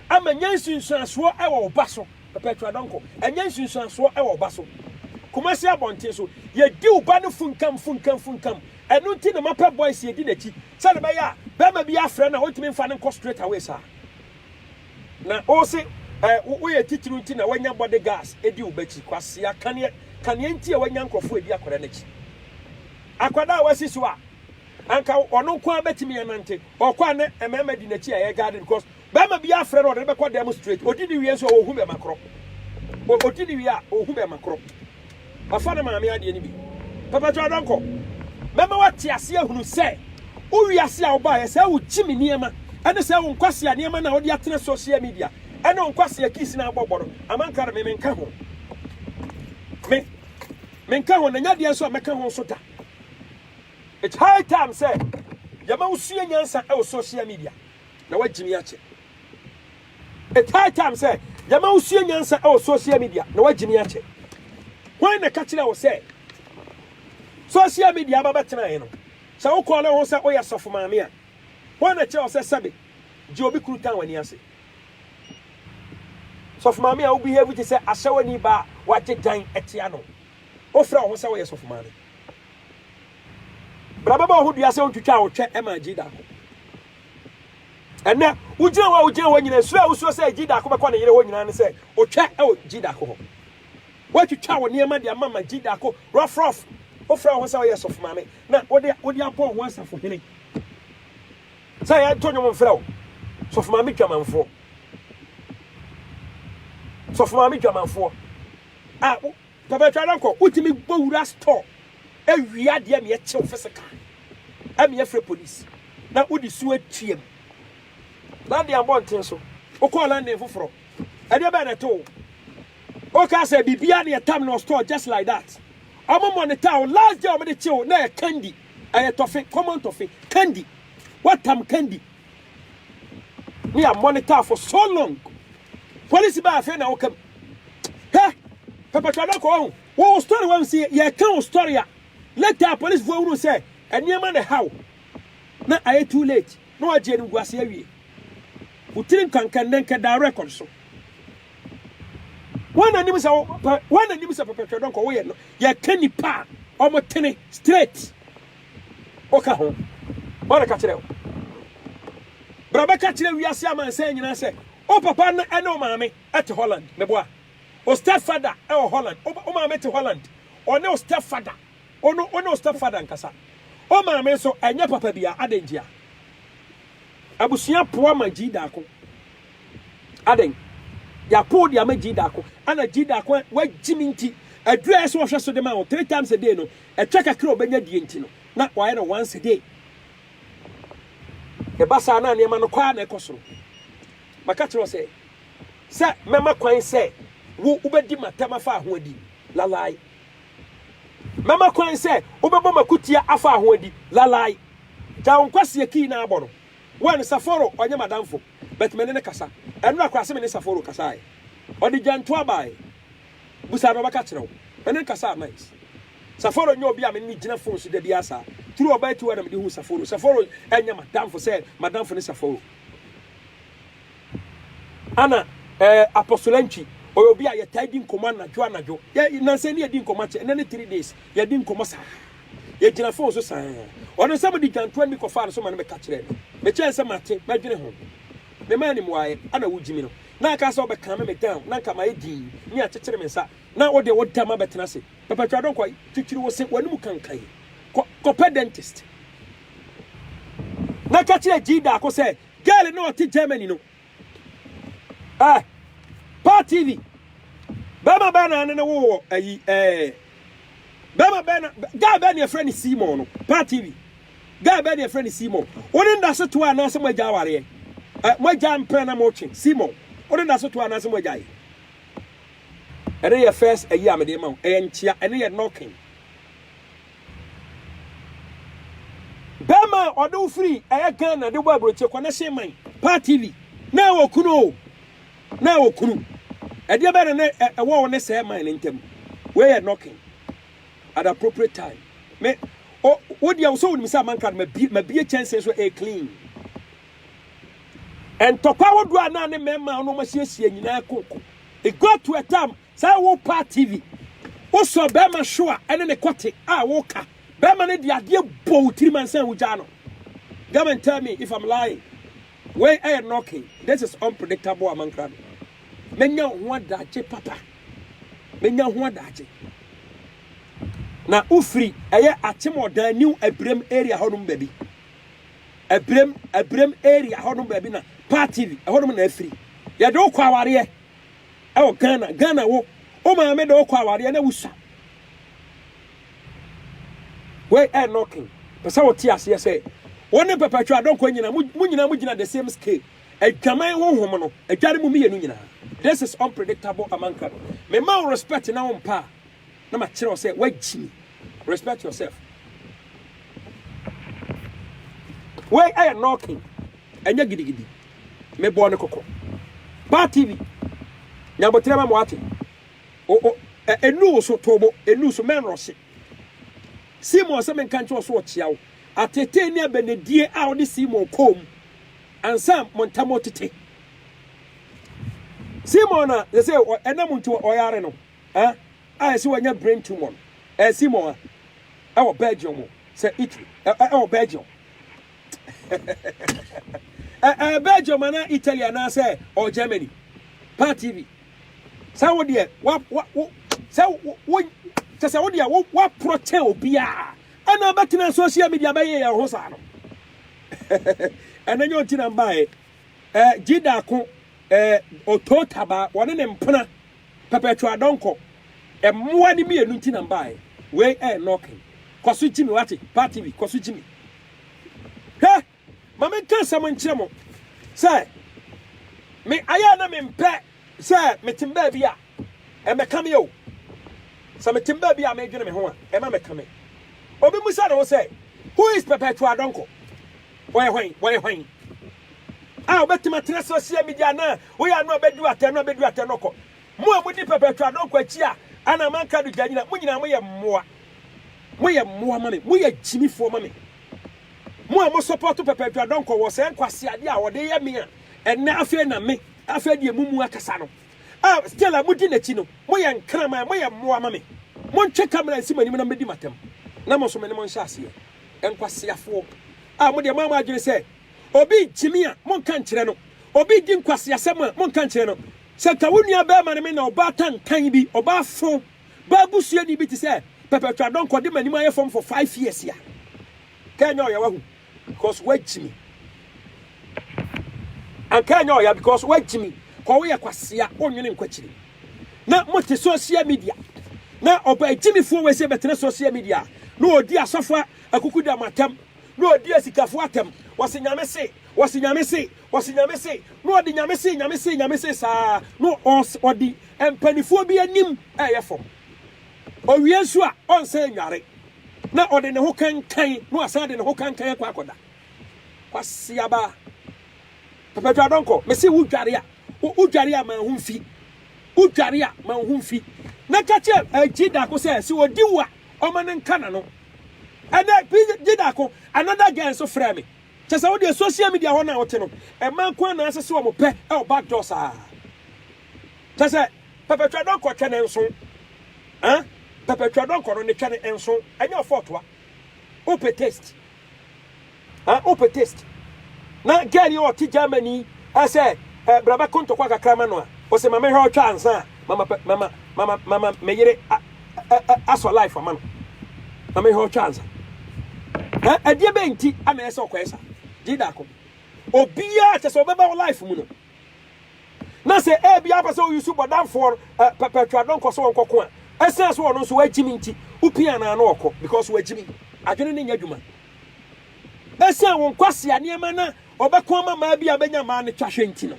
Ama nya nsunsuansoɔ wɔ wo ba so. Perpetua Donkor, Ɛnyɛ nsunsuansoɔ wɔ wo ba so. Kumasi abɔnten so, yɛdi wo ba no funkam, funkam, funkam. Ɛno nti na mapɛ boys yɛdi n'akyi. Sɛdeɛ ɛbɛyɛ a, barima bi afrɛ no a, ɔntumi mfa no nkɔ straight away saa. Na wose eh, wo, woyɛ titiriw nti na wanya body gas di wo ba akyi. Kwasea, kaneɛ, kaneɛ nti a wanya nkurɔfoɔ adi akwadaa no akyi. Akwadaa a wasi so a, anka ɔno nko ara bɛtumi anante. Ɔkɔ a na mmarima di n'akyi a ɛyɛ garden because Bɛma bi afrɛ no ɔde no bɛkɔ dan mu straight odi no wie nso ohu bɛma korɔ o odi no wie a ohu bɛma korɔ ɔfa ne maame adeɛ no bi papa kyɛw dɔnkɔ mɛma wate aseɛ ahunu sɛ wo wiase a wobaeɛ sɛ wo gye me nneɛma ɛne sɛ wo nkwasea nneɛma na wode atena social media ɛne wo nkwasea kiss na abɔbɔ no amanka no me menka ho me menka ho na nya deɛ nso a mɛka ho nso da it's high time sɛ yɛma wo sua nyansa ɛwɔ social media na wagye me akyɛ. It's high time sɛ yɛma wosua nyansa wɔ social media na wagye me akyɛ. Hwan na ɛka kyerɛ wo sɛ social media aba bɛtenaeɛ no sɛ wokɔɔ ne ho sɛ woyɛ sɔfo maame a hwan na ɛkyerɛ wo sɛ sɛbe gye obi kuru tan w'ani ase? Sɔfo maame a wobehave te sɛ ahyɛwani ba a wagye dan atia no wofrɛ wo ho sɛ woyɛ sɔfo maame. Bra bɛbɔ wo ho dua sɛ wontwitwaa wo twɛ ma agye daako. Ɛnnɛ, wogyina hɔ a wogyina hɔ nyinaa, suro a wosuro sɛ agyi daako bɛkɔ ne yere hɔ nyinaa ne sɛ otwa wɔ gyi daako hɔ. Woatwitwa wo nneɛma de ama ma gyi daako rɔfrɔf. Wofrɛ wo ho sɛ woyɛ sɔfomaame na wode wode abɔ wo ho asafohene sɛ yɛnto nnwom mfrɛ wo sɔfomaame dwamanfoɔ. Sɔfomaame dwamanfoɔ a Papa twa na nkɔ, wotumi bɔ wura store wie adeɛ ma yɛkye wo physical ma yɛfrɛ police na wode su atua mu. London abɔnten so, wokɔɔ London foforɔ, ɛdeɛ bɛn na ɛto wo? Wokaa sɛ biribiara na yɛtam no wɔ store just like that. Wɔn monitor wo, last day wɔde kye wo na ɛyɛ candy, ɛyɛ tɔfe, common tɔfe, candy, woatam candy. Me a monitor for so long. Police ba afei na wokam. Hɛ, pɛpɛtɔ na kɔ ho. Wo story wa nsi yɛ ka wo story a. Later police fo wuru sɛ nneɛma na how. Na ayɛ too late. Na wagye anim gu ase awie. Wo tiri nkanka nnɛ nka da record so. Wɔn na nim sɛ wɔn na nim sɛ pɛpɛtɔ dɔnkɔ woyɛ no. Yɛ ka nipa a wɔn tene straight. Ɔka ho. Ɔreka kyerɛ wo. Bra bɛka kyerɛ wiase amansan nyinaa sɛ wo papa ne ne wo maame te Holland. Meboa? Wo stepfather wɔ Holland. Wo maame te Holland. Ɔne wo stepfather. Wo no, wone wo stepfather nkasa. Wo maame nso, ɛnyɛ papa biara. Adɛn ntia? Abusua poa ma Gyidaako. Adɛn? Yɛapow de ama Gyidaako. Ɛna Gyidaako a wagye me nti, aduru a ɛsɛ wɔhwɛ so de ma wo three times a day no, Ɛtwa kakra a ɔbɛnya die nti no, na wayɛ no once a day. Ɛba saa na nneɛma no kɔ ara na ɛkɔ soro. Maka kyerɛ wo sɛ, sɛ mɛma kwan sɛ wo wobɛdi m'atɛm afa ahoɔdi, lalai. Mɛma kwan sɛ wobɛbɔ m'akutia afa ahoɔdi, lalai. Gya wo nkwaseɛ kii na abɔ no. One, Saforo ɔnyɛ m'adamfo, but me ne no kasa. Ɛnora koraa se me ne Saforo kasaeɛ. Ɔde gyantoa baeɛ. Bu saa na ɔbɛka akyerɛ wo. Ɛno nka saa nice. Saforo nyɛ obi a me ne no gyina phone so da biara saa. Through ɔbaa tiwa na mede huu Saforo. Saforo ɛnyɛ madamfo sɛ madamfo ne Saforo. Ana eh, Apostle Antwi, ɔyɛ obi a yɛtaa di nkɔmmɔ anadwo anadwo. Yɛ, nansa ni yɛdi nkɔmmɔ akyɛ, ɛnɛ ne three days. Yɛdi nkɔmmɔ saa. Yɛgyina phone so saa. Ɔno sɛ mode dwantoa nni kɔfaa no so ma no bɛka kyerɛɛ me. Mekyɛɛ sɛ mate, mɛdwene ho. Memaa no mmuaeɛ, ana wogyimi no. na aka sɛ ɔbɛkame me down na nka mayɛ dinn ne akyekyere me nsa na wo deɛ wo dam abɛtena ase pɛpɛtwa dɔn kɔ twitwiri wo se w'anim kankan kɔ kɔpɛ dentist na ka kyerɛ gyi daako sɛ girl na ɔte Germany no eh pa TV bɛma bɛɛ na ne ne wo wɔ ayi eh bɛma bɛɛ na guy bɛɛ ne ɛfrɛ ne Seymour no pa TV Guy bɛɛ na yɛfrɛ no Simon. Wo ne no da so toa anaasɛ moagya awareɛ? Ɛ, moagya mpena na motwe? Simon, wo ne no da so toa anaasɛ moagyae? Ɛno yɛ first ayi a mede rema wo. Ɛyɛ nkyea. Ɛno yɛ knocking. Bɛrima a ɔde wo firi ɛyɛ Ghana de bɔ aburokyire kɔ n'ɛhyɛn man paa TV na ɛwɔ kunu o na ɛwɔ kunu ɛdeɛ bɛyɛ na ɛwɔ wo ne sɛɛ man ne ntam wei yɛ knocking. at appropriate time me o wo deɛ sɛ wonim sɛ amanka no mabie mabie kyɛnsee so a clean ntɔkwa ahodoɔ a na ne mmarima a wɔn asiesie nyinaa koko it got to a time sɛ wopa tv wosɔ bɛrima hyew a ɛne ne kɔte a woka bɛrima no de adeɛ bɔ wo tirim ansa wogyaa no come and tell me if i'm lying wei ɛyɛ knocking this is unpredictable amankra no mɛnya wo ho adagye papa menya ho adagye. Na wofiri ɛyɛ akyem ɔdan new abirem area hɔnom baabi abirem abirem area hɔnom baabi na part tv ɛhɔnom na afiri yɛde wokɔ awareɛ ɛwɔ ghana ghana wo wo maame de wokɔ awareɛ na wusa wei ɛ knocking pɛ sɛ wote aseɛ sɛ wo ne pɛpɛtwa adɔnkɔ nyina mo nyina mo gyina the same scale Adwaman honhom no adware mo mmienu nyinaa. This is unpredictable Amankra no. Me ma wo respect na wo mpa a na ma kyerɛ wo sɛ woagyimi. Respect yourself. Wei ɛyɛ knocking ɛnyɛ gidigidi. Me bɔɔ no kɔkɔ. Ba TV nyaboterɛ ma mo ate. O o ɛ ɛnu wo so toobo ɛnu so mɛn rɔhye. Seymour sɛ menka nkyerɛ wo so ɔkyea wo. Atetee ne abɛnedie a wode Seymour kɔɔ mu. Ansa mo ntam otete. Simon a yɛsɛ ɛnam nti ɔyare no a yɛsɛ wanya brain tumor no, ɛyɛ Simon a ɛwɔ Belgium mo sɛ Italy ɛwɔ Belgium ɛɛ Belgium anaa Italy anaasɛ ɔ Germany pa TV sɛ wo deɛ wa wo sɛ wo kyɛ sɛ wo deɛ wo waporɔkyɛ obiara Ɛna abɛtena social media abɛyɛ yɛn ho saa no. Ɛna nyɛ ɔnti na mbaeɛ. Eh, Jida ako, eh, Otoo Taba, wɔne ne mpena, Perpetual Adɔnkɔ. Mmoa no mmienu nti na mbaeɛ. Wei ɛyɛ knocking. Kɔ so gyi me wate, Paa TV, kɔ so gyi me. Hwɛ! Ma menka asɛm nkyerɛ mo sɛ, me ayɛ a na mempɛ sɛ metem baabi a, ɛmmɛka me o. Sɛ metem baabi a medwene me ho a, ɛma meka me. Obi mmisa ne ho sɛ, Who is Perpetual Donkor? Ɔyɛ hwan? Ɔyɛ hwan a ɔbɛtem atena social media na woyɛ ano a bɛdu atɛ no a bɛdu atɛ no kɔ? Mo a modi Perpetual Donkor akyi a ana manka do gya nyina, mo nyinaa moyɛ mmoa. Moyɛ mmoa ma me. Moyɛ gyimifoɔ ma me. Mo a mo support Papa Adwuma Donkor wɔ saa nkwaseade a ɔde yɛ me a ɛnnɛ afei na me afei deɛ mo mu akasa no a still a modi n'akyi no, mo yɛ nkraman, mo yɛ mmoa ma me. Montwe camera nsi mo anim na mɛdi mo atɛm na mo nso me ne mo nhyɛ aseɛ. Nkwaseafoɔ a mo deɛ moama adwene sɛ obi rekyimi a monka nkyerɛ no, obi redi nkwaseasɛm a monka nkyerɛ no. Sɛ nka wo nua barima ne me na ɔbaa tantan bi, ɔbaa fo Baa busuani bi te sɛ Perpetual Donkor de m'anim ayɛ fam for five years a, anka ɛnyɛ ɔya wahu because wagyi me. Anka ɛnyɛ ɔya because wagyi me. Kɔ woyɛ kwasea, wonwene nkwakyiri. Na mote social media. Na ɔba agyimifoɔ wei sɛ bɛtena social media. Na ɔdi asɔfoɔ akukuda mo atɛm. Na ɔdi asikafoɔ atɛm. Wɔse nyame se, wɔse nyame se, Ɔse Nyame se, na ɔde Nyame se, Nyame se, Nyame se saa na ɔde mpaninfoɔ bi anim ɛyɛ fam. Ɔwie nso a, ɔnsan nnware na ɔde ne ho kankan na wasan de ne ho kankan akɔ akɔda. Kwasi aba. Pɛpɛtwa dɔnkɔ, mese wo dware a, wo dware a ma ho mfi. Wo dware a ma ho mfi. Na ka kyɛ agyi dako sɛ, se ɔdi wo a, ɔma no nka n'ano. Ɛnɛ, gyi dako, another girl nso frɛ me. Kyɛ sɛ wodeɛ social media hɔ no a wote no ɛma nko ara na asese wɔn pɛ ɛwɔ back door saa kyɛ sɛ pɛpɛ twa dɔnkɔ twɛ ne nso ah pɛpɛ twa dɔnkɔ no ne twɛ ne nso ɛnyɛ ɔfɔtoa ope taste ah ope taste na girl yi ɔte Germany ɛsɛ ɛ brabɛ kontɔkwa kakra ma no a ɔsɛ mama hwɛ ɔtwa ansa mama mama mama mama meyere asɔ life ama no na mehwɛ ɔtwa ansa na ɛdeɛ bɛn nti ana ɛsɛ ɔkɔɛ sa gye daako obiara kyɛ sɛ ɔbɛba wo life mu no na sɛ ɛbi apɛ sɛ ɔyusu bɔdamfoɔ pɛpɛtwa dɔ nkɔ so ɔnkɔko a ɛsɛn so ɔno nso wagyimi nti wopia anaa no ɔkɔ because wagyimi adwene ne nyɛ adwuma ɛsɛn wo nkwasea nneɛma na ɔbɛko ama maa bi a bɛnya maa no twahwɛ nti no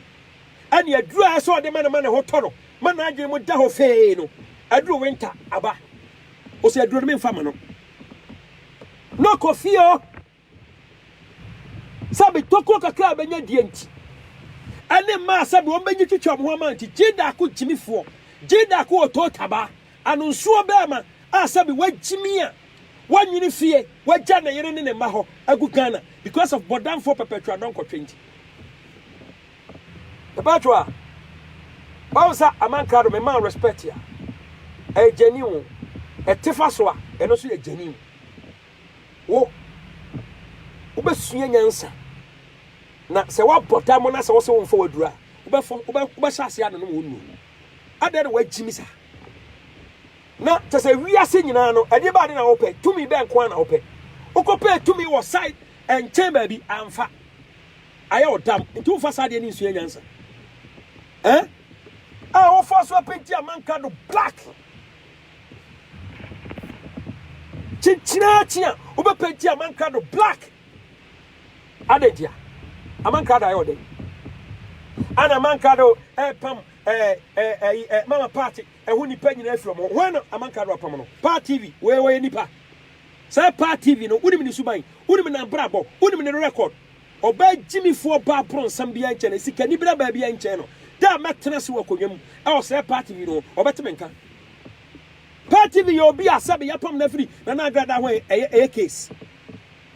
Ɛnna aduru a ɛsɛ sɛ ɔde ma no ma ne ho tɔ no ma n'adwene mu da hɔ fee no, aduru winter aba. Ose aduro no me nfa ma no. Na ɔkɔ fie hɔ sɛ me tokuro kakra a bɛnya die nti. Ɛne mmaa sɛ wɔn bɛnyi twitwa wɔn ho ama nti gye daako gyimifoɔ, gye daako wɔ too taba, anonsoɔ bɛɛma a sɛ me wagyimi a wanwene fie, wagya ne yere ne ne mma hɔ agu Ghana because of bɔdamfoɔ pɛpɛtwa dɔnkɔtwe nti. Mepaatwo a Bible sa aman krado me man respect a ɛyɛ gyani wo ɛtefa so a ɛno nso yɛ gyani wo wobɛsua nyansa na sɛ woabɔ da mo na sɛ wo sɛ wo mfa waduru a wobɛfɔ wobɛhyɛ aseɛ anonom wo nnuo adɛn na wagyimi sa na kyɛ sɛ wiase nyinaa no ɛdeɛ baade na wopɛ tumi bɛn nko a na wopɛ wokɔpɛ tumi wɔ side ɛnkyɛn baabi amfa Ayɛ wo tam nti wo nfa saa adeɛ no nsua nyansa eh. A wo fa so apenti amanka no black. Kyenkyinaa kyen a wo bɛ penti amanka no black. Adɛ nti a amanka da ayɛ wo dɛn. Ana amanka do eh pam eh eh eh eh mama party eh ho nipa nyina afiri ɔmo ho. Hwan na amanka do apam no. Paa TV wei wɔyɛ nipa. Saa paa TV no, wonim ne suban, wonim n'abrabɔ, wonim ne record. Ɔbaa gyimifoɔ baa bronsam biara nkyɛn no, sikani bira baa biara nkyɛn no. Da a mɛtena ase wɔ akonnwa mu wɔ Sɛɛ Paa TV no ho, ɔbɛte me nka. Paa TV yɛ obi a sɛbe yɛapam no afiri Nana Agradaa ho a, ɛyɛ case.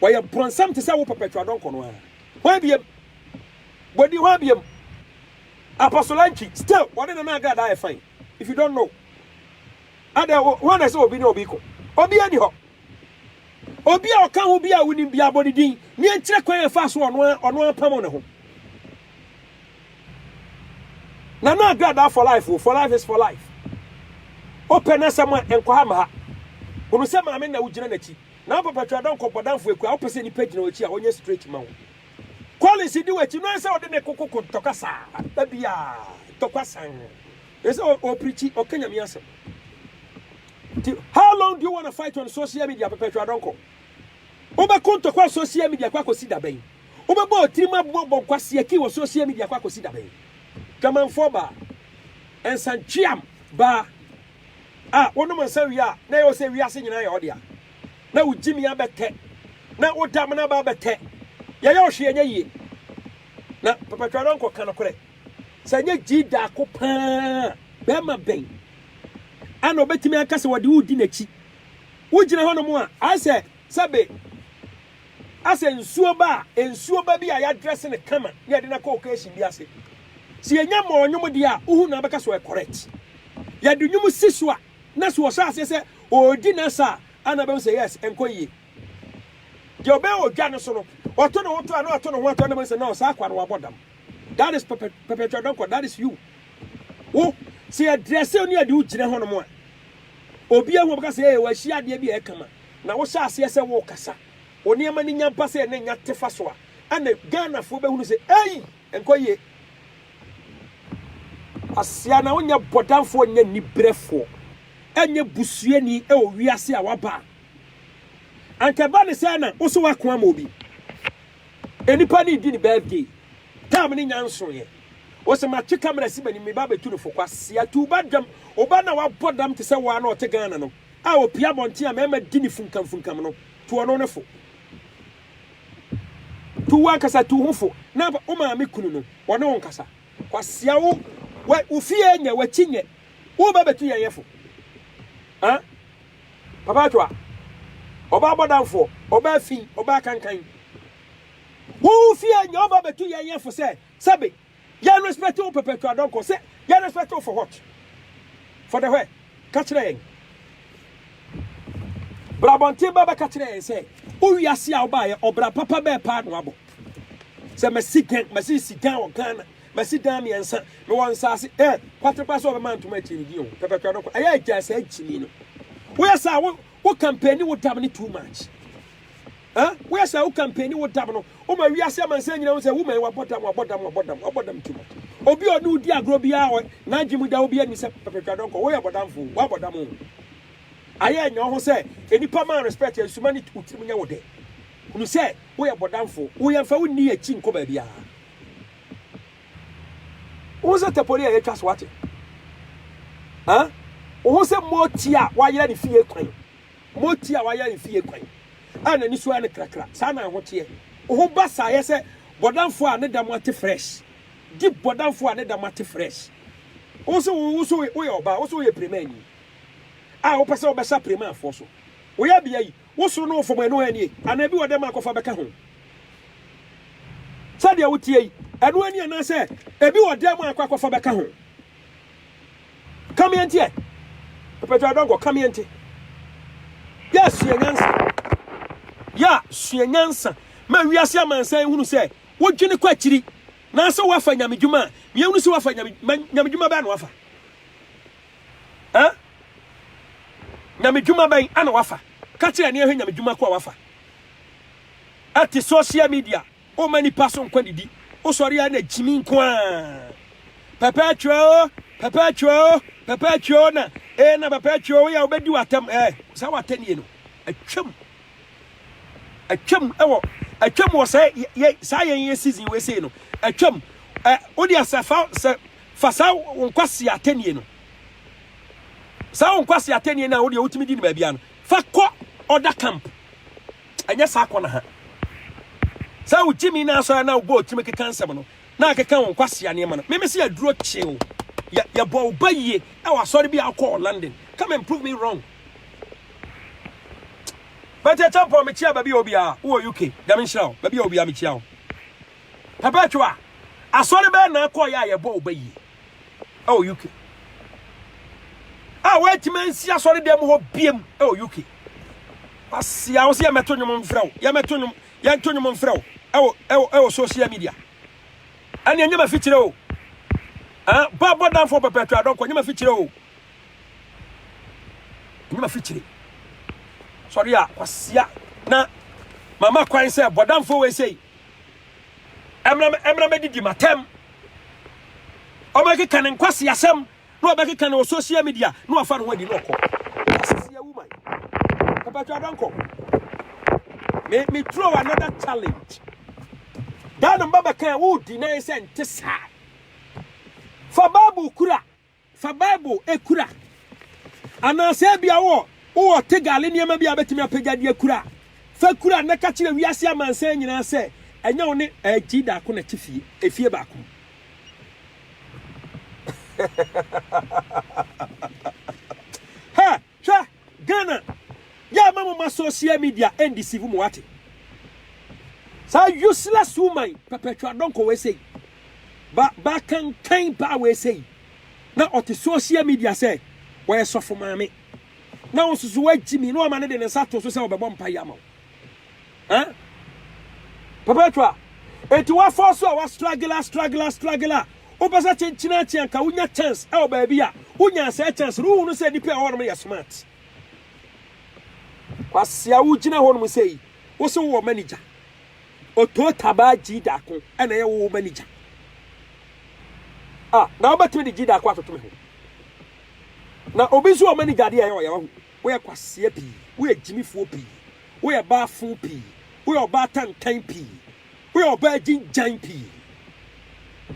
Ɔyɛ bronsam te sɛ wo Perpetua Donkor no ara. Hwan biam? Bodi hwan biam? Apostle Antwi, still ɔne Nana Agradaa yɛ fine. If you don't know ɛdeɛ wo hwan na ɛsɛ obi ne obi ko obi ani hɔ obi a ɔka ho bi a wonim bi abɔ ne din ne ɛnkyerɛ kwan ɛfa so ɔno ɔno apamo ne ho na na agrada for life for life is for life opɛ na sɛ ma ɛnkɔ ha ma ha hunu sɛ maame na wogyina n'akyi na papa twa dɔn kɔbɔ danfo akura opɛ sɛ nipa gyina w'akyi a ɔnyɛ straight ma wo Collins di w'akyi no ansɛ ɔde ne koko ko ntɔkwasa ba biaa ntɔkwasan ɛsɛ ɔprikyi ɔka nyame asɛm nti how long do you wanna fight on social media pɛpɛtwa dɔnkɔ wobɛko ntɔkwa on social media kɔ akɔsi dabɛn wobɛbɔ ɔtirim aboɔ bɔ nkwaseɛ kii wɔ social media kɔ akɔsi dabɛn dwamanfoɔ baa ɛnsantweam baa A Wonom nsã wie a, na ɛyɛ wo sɛ wiase nyinaa yɛ wo dea. Na wo gyimia bɛtɛ, na wo damena ba bɛtɛ. Yɛyɛ wo hwee ɛnyɛ yie. Na Pɛpɛtwɛdɔnkɔ ka nokorɛ. Sɛ ɛnyɛ gyii daako pa ara a, barima bɛn ara na ɔbɛtumi aka sɛ ɔde wo redi n'akyi? Wogyina hɔnom a, ayɛ sɛ Sɛbe asɛ nsuo ba a, nsuo ba bi a yadrɛse no kama na yɛde no akɔ occasion bi ase. Sɛ yɛnya mɔɔ nwom deɛ a, wohu na wobɛka sɛ ɔyɛ correct. Yɛde nwom si so a, na sɛ ɔhyɛ aseɛ sɛ ɔredi n'asa a, a na wobɛhu sɛ yes, ɛnkɔ yie. Deɛ ɔbɛyɛ wɔ dwa no so no, ɔto ne ho to a na wato ne ho ato a na wobɛhu sɛ no, saa akoa no wabɔ dam. That is pɛpɛ, perpetual dɔnkɔ, that is you. Wo, sɛ yɛdrɛse wo ne yɛde wo gyina hɔnom a, obiara hu a ɔbɛka sɛ ee, wahyia adeɛ bi a ɛyɛ kama. Na wo hyɛ aseɛ sɛ wo kasa, wo nneɛma no nya ba sɛ ne nya te fa so a, ɛne Ghana foɔ bɛhunu sɛ ei! Nkɔ yie. Kwasea na wo nyɛ bɔdamfoɔ nyɛ nibrɛfoɔ ɛnyɛ busuani ɛwɔ wiase a waba a anka ɛba ne sɛ na wo so wako ama obi enipa ne di ne birthday tam ne nya nsoeɛ wo se matwe camera si mani me ba bɛtu no fo kwasea tu ba dam wo ba na wabɔ dam te sɛ waa na ɔte Ghana no a opue abɔnten a mmarima di no funkamfunkam no, tu ɔno no fo. Tu wo ankasa tu ho fo na wo maame kunu no, ɔne wo nkasa. Kwasea wo, wo fie nyɛ, w'akyi nyɛ, wo ba bɛtu yɛn yɛ fo. Eh? Papa atwa, ɔba abɔdamfoɔ, ɔba afi, ɔba akankan. Wo fie nyɛ, wo ba bɛtu yɛn yɛ fo sɛ, sɛbe, Yɛn respect wo pɛpɛɛpɛ adɔnkɔ sɛ yɛn respect wo for what for the where ka kyerɛ yɛn brabɔnten bɛbɛ ka kyerɛ yɛn sɛ wo wiase a wobaayɛ ɔbra papa bɛɛ paa na wabɔ sɛ masi gan masi si gan wɔ Ghana masi dan mmiɛnsa mewɔ nsaase ɛ eh, kwatepa sɛ ɔbɛma ntoma akyiri di o pɛpɛpɛ adɔnkɔ ɛyɛ agya sɛ akyini no woyɛ saa wo wo kampani wo dam ne too much Huh? Woyɛ sɛ wo campaign ne wo dam no, woma wiase amansan nyina hu sɛ woman wabɔ dam, wabɔ dam, wabɔ dam, wabɔ dam tum. Obi ɔne wo di agorɔ biara n'adwe mu da obi anim sɛ pɛpɛtwa dɔnkɔ, woyɛ bɔdamfo, wabɔ dam o. Ayɛ nya wo ho sɛ nnipa ma respect a nsuma ne wo tirim nyɛ wo dɛ. Hunu sɛ woyɛ bɔdamfo, wo yɛmfa wo nni akyi nkɔ baabiara. Wo ho sɛ tapoli a yɛatwa so ate. Huh? Wo ho sɛ moti a wɔayera ne fie kwan. Moti a wayɛ mfe ekwan a n'ani so ayɛ no krakra, saa na ho teɛ. Wo ho ba saa yɛ sɛ bɔdamfo a ne dam ate fresh, deep bɔdamfo a ne dam ate fresh. Wo se wo so woyɛ ɔbaa, wo se woyɛ premaani a wopɛ sɛ wobɛsa premaafoɔ so. Wo yɛbea yi, wo soro ne wo fam ɛno ara nie? Anaa ebi wɔ dɛ ma akɔfa bɛka ho? Sɛdeɛ woteɛ yi, ɛno ara nie anaasɛ ebi wɔ dɛ ma akɔ akɔfa bɛka ho? Ka me nteɛ. Mpɛtɔ adɔnkɔ ka me nte. Yɛ sua nyansa. Yɛ sua nyansa. Ma wiase amansan nhunu sɛ wodwene kɔ akyiri na sɛ woafa nyame dwuma a, ma yɛnhunu sɛ woafa nyame ma nyame dwuma bɛn na wafa? Eh? Nyame dwuma bɛn na wafa? Ka kyerɛ ne yɛhwɛ nyame dwuma ko a wafa. Ɛte social media. Womma nnipa so nkwa didi. Wosɔre a na gyimi nko ara. Papa Atwua o, Papa Atwua o, Papa Atwua o na ee na Papa Atwua o, woyɛ a wobɛdi w'atam ɛɛ. Saa w'atɛnnie no, atwam. Atwam wɔ atwam wɔ saa yɛ saa yɛn yɛ season wei sei no, atwam. Ɛ wode asɛ fa sɛ fa saa wo nkwasi atɛnnie no, saa wo nkwasi atɛnnie no a wodeɛ wotumi di no baabiara no, fa kɔ ɔda camp. ɛnyɛ saa kɔ na ha sɛ wo gyimi na asɔre na wobɔ otimi keka nsɛm no na akeka wo nkwasea nneɛma no meme sɛ yɛduro kyew yɛbɔ wo ba yie ɛwɔ asɔre bi a wokɔɔ london come and prove me wrong bɛte akyɛmpɔn mekyia baabi a obiara wowɔ uk dɛm nhyira wo baabi a obiara mekyia wo papa atwa asɔre bɛɛ na akɔɔ yɛ a yɛbɔ wo ba yie wɔ UK a wɔantumi ansi asɔredan mu hɔ biam wɔ UK. Asia wo sɛ yɛmɛto nnwom mfrɛ wo, yɛmɛto nnwom, yɛnto nnwom mfrɛ wo ɛwɔ ɛwɔ ɛwɔ social media. Ɛne ɛnyɛ ma fikyerɛ o. Ah, ba bɔ danfo pɛpɛtɔ adɔnkɔ ɛnyɛ ma fikyerɛ o. Ɛnyɛ ma fikyerɛ. Sɔre a kwasia na mama kwan sɛ bɔ danfo wei sei. ɛmena mɛdidi matɛm ɔbɛkeka ne nkwasi asɛm na ɔbɛkeka ne social media na wafa ne ho adi na ɔkɔ asisi awu man pɛpɛtwa dɔnkɔ me me throw another challenge dan no mbaba kan wo di na yɛ sɛ nte saa fa baabu kura Fa Bible kura. Anaasɛ ebia wowɔ wowɔ tegale nneɛma bi a wobɛtumi apagya de akura a, fa kura na ka kyerɛ wiase amansan nyinaa sɛ ɛnyɛ wo ne Agyi Daako na ɛte fie, efie baako mu. Ha! Hwɛ Ghana yɛ ama mo ma social media ɛndisivu mo wate saa useless woman pɛpɛtwa dɔnkɔ wei sei ba ba kankan ba wei sei na ɔte social media sɛ wɔyɛ sɔfo maame na wo soso wagyimi na ɔma ne de ne nsa to so sɛ ɔbɛbɔ mpa yi ama wo Eh? Perpetua, enti woafɔ so a woastruggle a struggle a struggle a wopɛ sɛ kyenkyena akyi anka wonya chance ɛwɔ baabi a wonya sɛ chance no wohunu sɛ nipa ɛwɔ nom yɛ smart. Kwasia wogyina hɔ nom sɛ yi wo sɛ wowɔ manager. Oto tabaa gyi daako ɛna ɛyɛ wo manager. Ah, na wobɛtumi de gyi daako atoto me ho. Na obi nso wɔ manager adeɛ ɛyɛ ɔyɛ wahu. Woyɛ kwasea pii, woyɛ gyimifoɔ pii, woyɛ baafo pii, woyɛ ɔbaa tantan pii, woyɛ ɔbaa gyingyan pii.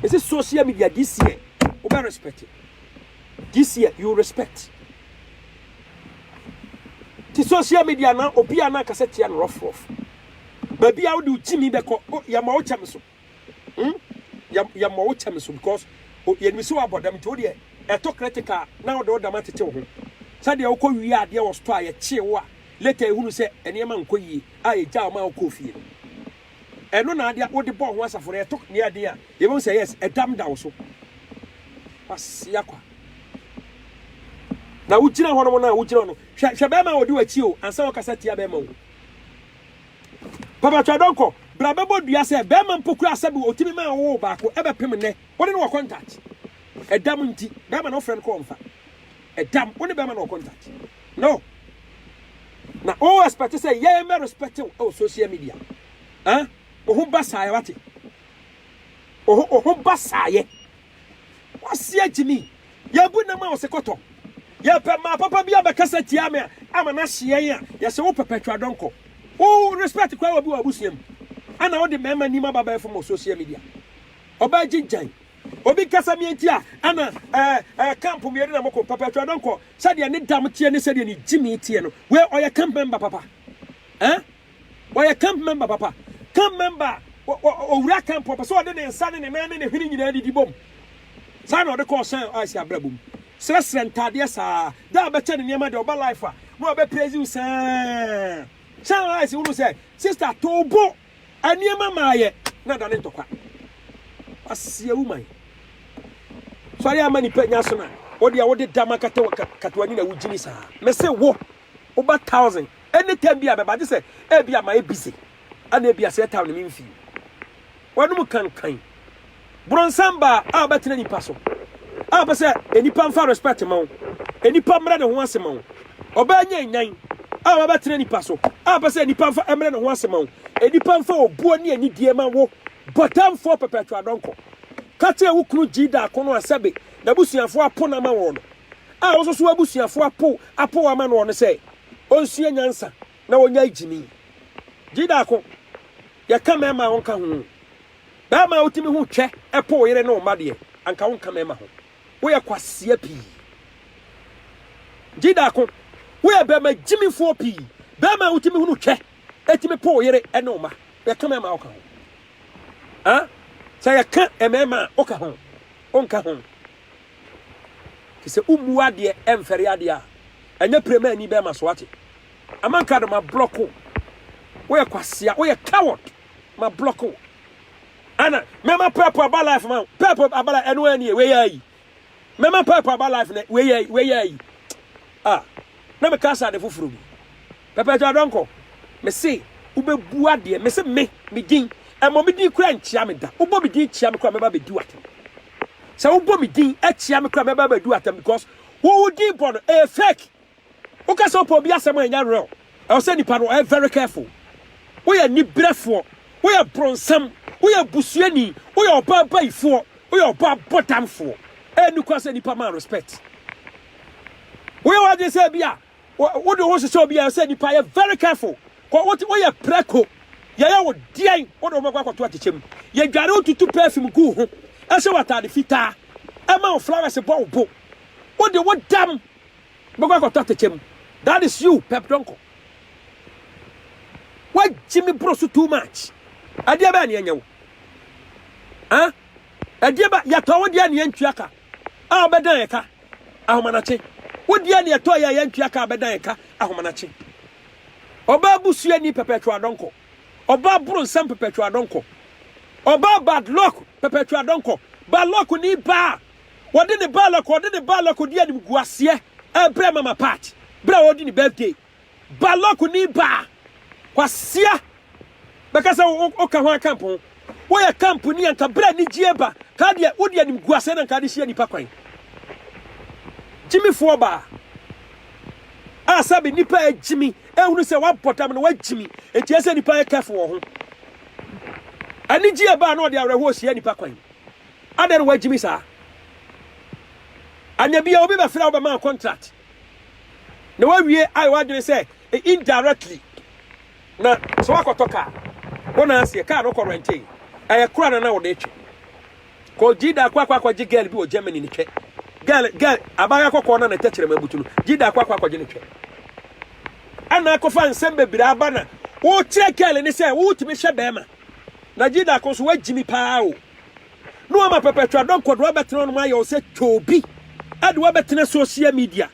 Mese social media this year wobɛ respect it. This year you respect. Ti social media na obi a na akasɛ tia no rough rough. Baabi a wode wo gyimi bɛkɔ, o yɛma wo kyɛm so. Hmmm yɛ yɛ mmɔ wo kyɛm so because o yɛ nim sɛ wabɔ dam nti wo deɛ ɛtɔ critical a na wode wo dam atete wo ho sɛdeɛ wo kɔ wie adeɛ wɔ store a yɛ kyee wo a later ehunu sɛ nneɛma nkɔ yie a yɛ gyaa wo maa wo kɔɔ fie no ɛno na adeɛ wode bɔɔ ho asafo no ɛtɔ nea ɛden a yɛ bɛhu sɛ yes ɛdam da wo so kwasia kwa na wo gyina hɔ nom na wo gyina hɔ no hwɛ hwɛ bɛrima a ɔdi w'akyi o ansa wɔkasa tia bɛrima o. Papa twa dɔnkɔ bra bɛbɔ dua sɛ bɛɛma mpo koraa sɛbi otimi maa wowoo baako ɛbɛpem nnɛ wone no wɔ contact ɛdam nti bɛɛma na wofrɛ no kɔ ɔmfa ɛdam wone bɛɛma no wɔ contact no na wo expect sɛ yɛɛ mɛ respect wo ɛwɔ social media ah oho ba saayɛ wate oho oho ba saayɛ. Ɔseɛ gyimi, yɛbu nam a ɔse kɔtɔ. Yɛpɛ maa papa bi abɛkasa tia me a ama no ahye yɛn a, yɛse wo perpetual dɔnkɔ. Wo respect koraa obi wɔ abusua mu ɛna wode mmarima nim aba abɛfom wɔ social media. Ɔbaa gyigyan. Obi kasa me nti a ɛna ɛɛ ɛɛ camp mmienu na moko. Perpetual dɔnkɔ sɛdeɛ ne dam teɛ ne sɛdeɛ ne gyimi teɛ no, wei ɔyɛ camp member papa. Ɛɛ. Ɔyɛ camp member papa. Camp member a ɔwura camp ɔpɛ sɛ ɔde ne nsa ne ne nan ne ne hwene nyinaa didi bom. Saa na ɔde kɔ ɔhyɛn a ɛsi abrabɔ mu. Srɛsrɛ ntadeɛ saa. Da a ɔbɛkyɛ ne nneɛma deɛ ɔba life a na ɔbɛ praise you saa. Hyɛn a ɛsi wunu sɛ sister too bo nneɛma maa yɛ na da ne ntɔkwa. Aseɛ wo man. Sɔre ama nipa nya so na ɔde a wode dama kata wɔ kata wani na wogyini saa. Mese wo Woba thousand any time bi a bɛba gye sɛ ebi a mayɛ busy ana ebi a sɛ ɛtaw ne me mfii w'anom kankan borɔnsam baa a wobɛtena nipa so a wopɛ sɛ nipa mfa respect ma wo nipa mmerɛ ne ho ase ma wo ɔbaa nya nyan a wabɛtena nipa so a wopɛ sɛ nipa mfa mmerɛ ne ho ase ma wo nipa mfa obuo ne anidie ma wo bɔtamfoɔ pɛpɛtwa dɔnkɔ ka kyerɛ wo kunu gyi daako no a sɛbe n'abusuafoɔ apo no ama wɔn no A Wosusuw abusuafo apow apow ama no no sɛ onsua nyansa na onnyae gyimi. Gyidako, Yɛka mmarima a wɔnka ho o. Barima a wutumi ho twɛ pow wo yere ne wo mma deɛ, anka wonka mmarima ho. Woyɛ kwasea pii. Gyidako, Woyɛ barima gyimifoɔ pii. Barima a wutumi ho no twɛ tumi pow wo yere ne wo mma. Yɛka mmarima a woka ho. Aa, sɛ yɛka mmarima a woka ho, wonka ho. Te sɛ wommu adeɛ ɛmfɛre adeɛ a, ɛnyɛ pire ma ani bɛma so wate. Amankrado ma block wo. Woyɛ kwasea, woyɛ coward. Ma block wo. Ana mɛma purple aba life ma purple aba life ɛno ɛni wei yɛ ayi. Mɛma purple aba life na wei yɛ wei yɛ ayi. Ah, na meka sɛ ade foforɔ bi. Pɛpɛɛpɛ Adɔnkɔ, me se wobɛbua deɛ me se me, me din, ɛmmɔ me din koraa nkyia me da, wobɔ me din kyia me koraa mɛba abɛdi wo atɛm, sɛ wobɔ me din kyia me koraa mɛba abɛdi wo atɛm because wo wo din bɔ no ɛyɛ fake, woka sɛ wopɛ obi asɛm a ɛnyɛ real, ɛwɔ sɛ nipa no ɔyɛ very careful, woyɛ aniberɛfoɔ, woyɛ bronsam, woyɛ busuani, woyɛ ɔbaa abayifoɔ, woyɛ ɔbaa abɔdamfoɔ, ɛyɛ nokora sɛ nipa ma respect, woyɛ w'adwene sɛ bi a Wode wo ho hyehyɛ obi a ɛsɛ nipa yɛ very careful. Kɔ wote woyɛ prɛko. Yɛyɛ wo deɛn wode wo bɛkɔ akɔto akyekyɛ mu. Yɛdware wo tutu perfume gu wo ho. Ɛhyɛ wo atade fitaa. Ɛma wo flowers bɔ wo bo. Wode wo dam bɛkɔ akɔto atɛkyɛ mu. That is you pɛp dɔnkɔ. Wagye me boro so too much. Ɛdeɛ bɛɛ ne ɛnyɛ wo. Ɛdeɛ bɛɛ yɛtɔ wo deɛ ne ɛntua ka. A wobɛdan ɛka. Ahomanakye. Wodeɛ neɛ ɛtɔ yɛ a yɛntua ka a bɛda yɛn ka Ahomanakye. Ɔbaa busuani Perpetual Donkor. Ɔbaa boro nsɛm Perpetual Donkor. Ɔbaa bad luck Perpetual Donkor. Bad luck ni baa wɔde ne bad luck ɔde ne bad luck ɔdi animguaseɛ ɛbrɛ Mama Pat berɛ a ɔredi ne birthday. Balɔk ni baa kwasia bɛka sɛ wo ka ho a camp ho wo yɛ camp ni anka bra nigyie ba ka deɛ wo deɛ nim guasɛ na nka de hyia nipa kwan gyimi foɔ baa a sɛbi nipa yɛ gyimi ehunu sɛ wabɔ dam no wagyimi enti ɛsɛ nipa yɛ kɛfo wɔ ho anigyie baa na ɔde awerɛhoɔ hyia nipa kwan adɛn na wagyimi saa anya bia obi bɛfrɛ wo bɛma contract Na wawie ayɛ w'adwene sɛ indirectly na sɛ wakɔtɔ kaa wo na aseɛ kaa no kɔ rɛntee ɛyɛ kora na na wode twe kɔ gyida akɔ akɔ akɔgye girl bi wɔ Germany ne twɛ girl girl abaayewa kɔkɔɔ na ne tɛkyerɛma abutu no gyida akɔ akɔ akɔgye ne twɛ ɛna akɔfa nsɛm bebree aba na wokyerɛ girl ne sɛ wotumi hwɛ bɛrima na gyida akɔ nso wagyimi paa o na wɔama pɛpɛtwa dɔnkɔ de wɔabɛtena hɔnom ayɛ wo sɛ kyoobi de wɔabɛtena social media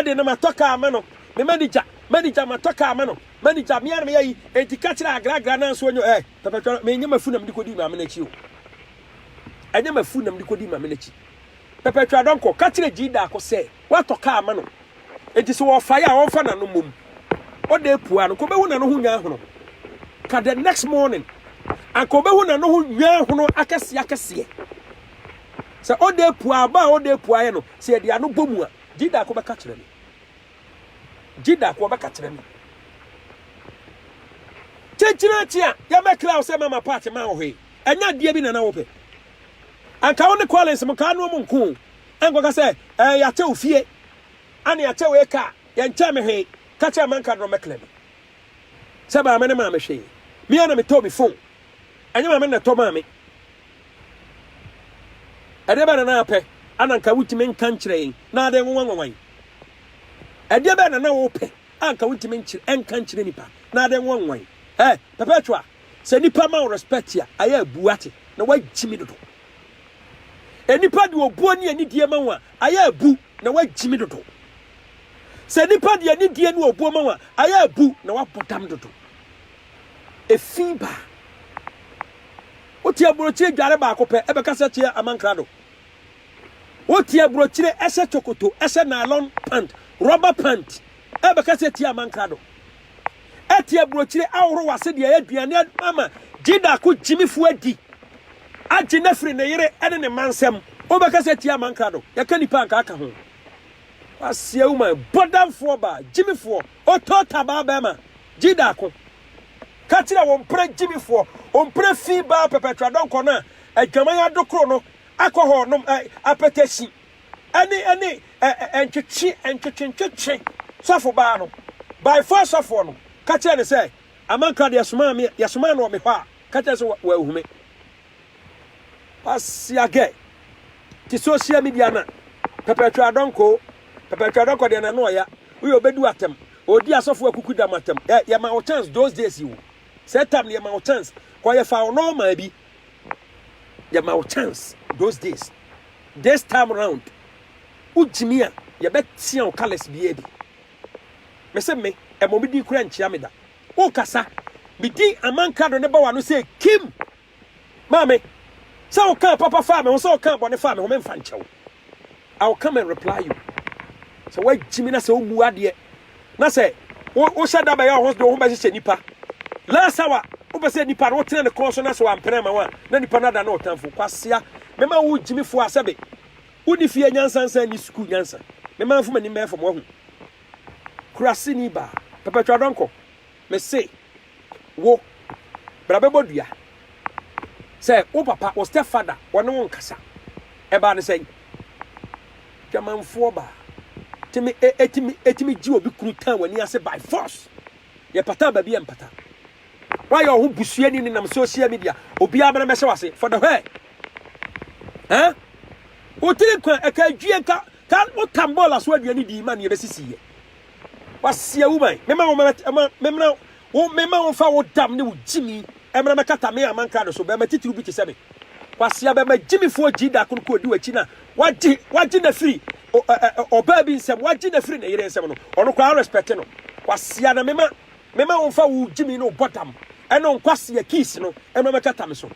de no matɔ kaa ama no me manigya manigya matɔ kaa ama no manigya mea na meyɛ yi enti ka kyerɛ agragra no anso ɔnyɛ ɛ pɛpɛtwa menyɛ mafu na mede kɔdii maame no akyi o ɛnyɛ mafu na mede kɔdii maame no akyi Perpetua Donkor ka kyerɛɛ Gyee Darko sɛ watɔ kaa ama no, enti sɛ ɔrefae a ɔmfa n'ano mmom. Ɔda apuaa no, anka obehu n'ano ho nnwanhono ka the next morning. Anka obehu n'ano ho nnwanhono akɛseakɛseɛ. Sɛ ɔda apuaa a, bɔ a ɔda apuaaeɛ no, sɛ yɛde ano bɔ mu a, Gyee Darko bɛka kyerɛ me. Gyee Darko ɔbɛka kyerɛ me. Kyenkyena akye a, yɛmmɛkra wo sɛ mama part mma wo hwee. Ɛnyɛ adeɛ bi na na wopɛ. Anka wo ne Collins mo kaa noom nko o, ɛnkɔka sɛ ɛɛ yɛakyɛ wo fie, ane yɛakyɛ wo eka a, yɛnkyɛɛ me hwee, ka kyerɛ Manka Drɔmmɛ Clem sɛ maame no maa me hwee, me ara na metɔɔ me phone, ɛnyɛ maame no na ɛtɔ maa me. Ɛdeɛ bɛn na na apɛ a na anka wontumi nka nkyerɛ yɛn na adɛn nwanwa nwanwa yi? Ɛdeɛ bɛn na na wopɛ a anka wontumi nkyerɛ ɛnka nkyerɛ nipa na adɛn nwanwa nwanwa yi? Ɛɛ Perpetua, Sɛ nipa ma wo respect a, ayɛ a bu ate na wagyimi dodo. Enipa de obuo ne anidie ma wo a, ayɛ a bu na wagyimi dodo. Sɛ nipa de anidie ne obuo ma wo a, ayɛ a bu na wabɔ dam dodo. Efi ba. Wote aburokyire dware baako pɛ, ɛbɛka sɛ kyeɛ amankrado. Wote aburokyire ɛhyɛ chokoto, ɛhyɛ nylon pant, rubber pant, ɛbɛka sɛ tie amankrado. ɛte aburokyire ahorow ase de ayɛ aduane ama Gyidako gyimifo adi, agye no afiri ne yere ne ne mma nsam. Wobɛkasa atia amankrado, yɛka nnipa a anka aka ho. Woaseɛ wo man, bɔdamfoɔ baa, gyimifoɔ, otota baa bɛrima, Gyidako. Ka kyerɛ wɔn mpena gyimifoɔ, wɔn mpena fi baa pɛpɛtradɔnkɔ no a adwaman adokoro no, akɔhɔɔnom, ɛ, apɛtɛhyi, ɛne ɛne ɛ ɛ ntwetwe ntwetwe ntwetwe sɔfo baa no by four sɔfoɔ no ka kyerɛ no sɛ amankra deɛ somaa me yɛsomaa no wɔ me hɔ a ka kyerɛ sɛ wɔahume pasiagɛ te social media na pɛpɛtwa adɔnkoo pɛpɛtwa adɔnkɔ deɛ na no ɔya woyɛ ɔbɛdu atɛm ɔdi asɔfo akuku dam atɛm yɛ yɛma wo chance those days yi wo sɛ tam ne yɛma wo chance kɔ yɛfa wo nɔɔma bi Yɛma wo chance those days. This time round, wogyimi a, yɛbɛtea wo colours biara bi. Mese me, ɛmmɔ me din koraa nkyia me da. Wokasa, me din Amankrado no ba w'ano sɛ kim! Maame, sɛ wokaa papa faa me ho, sɛ wokaa bɔne faa me ho, memfa nkyɛ wo. I will come and reply you. Sɛ wagyi me na sɛ womu adeɛ na sɛ wohyɛ da bɛyɛ ɔho de wo ho bɛhyehyɛ nipa last hour wopɛ sɛ nipa no wotena ne kɔn so na sɛ wampene ma wo a na nipa no ada na ɔtamfo kwasea mɛma wo gyimifoɔ a sɛbe woni fie nyansa nsa ni sukuu nyansa mɛma mfoma nim bɛyɛ fam wahu kurase ni baa pɛpɛtwa dɔnkɔ Mese wo, bra bɛbɔ dua. Sɛ wo papa, wo step father, ɔne wo nkasa. Ɛbaa no sɛn? Dwamanfoɔ baa. Tumi, ɛtumi, ɛtumi gye obi kunu tan w'ani ase by force. Yɛpataa baabi a ɛmpata. Woayɛ wo ho busuani nenam social media, obiara bɛna bɛhyɛ w'ase, for the where? Huh? Wo tiri kwan, ɛka adwie, ka, ka, wo tambɔɔla so aduane dii ma neɛ ɛbɛsisiiɛ. W'aseɛ awu man, mema wo mmara ɛma memmra wo mema wo mfa wo dam ne wo gyimi ɛmmra mɛkata me aman krado so bɛɛma titiriw bi te sɛ me Kwasea bɛɛma gyimifoɔ gyii da kono koɔdi w'akyi na wagye wagye na firi o ɛ ɛ ɔbaa bi nsam wagye na firi ne yere nsam no ɔno koraa respect no Kwasea na mema mema wo mfa wo gyimi ne wo bɔ dam ɛne wo nkwasea keys no ɛmmra mɛkata me so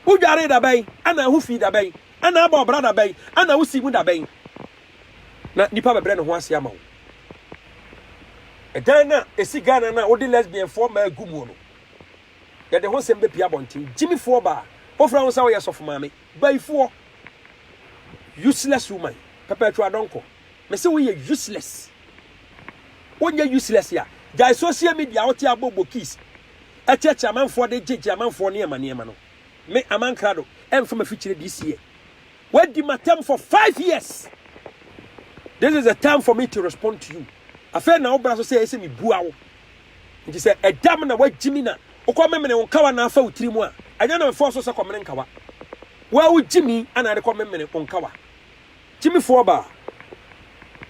Wodwaree da bɛn ɛna ho fii da bɛn ɛna abɔ ɔbra da bɛn ɛna wo sii mu da bɛn. Na nipa bɛbrɛ ne ho ase ama wo. Ɛdan no a ɛsi Ghana no a wode lesbianfoɔ mmaa agu muo no, yɛde ho nsɛm bɛpue abɔnten. Gyimifoɔ baa, wofrɛ wo sɛ woyɛ sɔfo maame. Bayifoɔ. Useless woman. Perpetual dɔnkɔ. Mese woyɛ useless. Wonyɛ useless a, gyae social media a wote abɔ bokis, ɛkyeɛkye amanfoɔ de gyegye amanfoɔ nneɛma nneɛma no. Me, Amankrado, ɛmfa m'afikyire this year. Wadi m'atɛm for five years, this is the time for me to respond to you. Afei na wobra so sɛ ɛyɛ sɛ mebua wo. Nti sɛ ɛda m na woagye mi na wokɔ memene wo nkawa na afa wo tiri mu a, ɛnyɛ na mefɔɔ so sɛ kɔmene nkawa. Wo a wogye mi ana ɛde kɔ memene wo nkawa. Gyimifoɔ baa,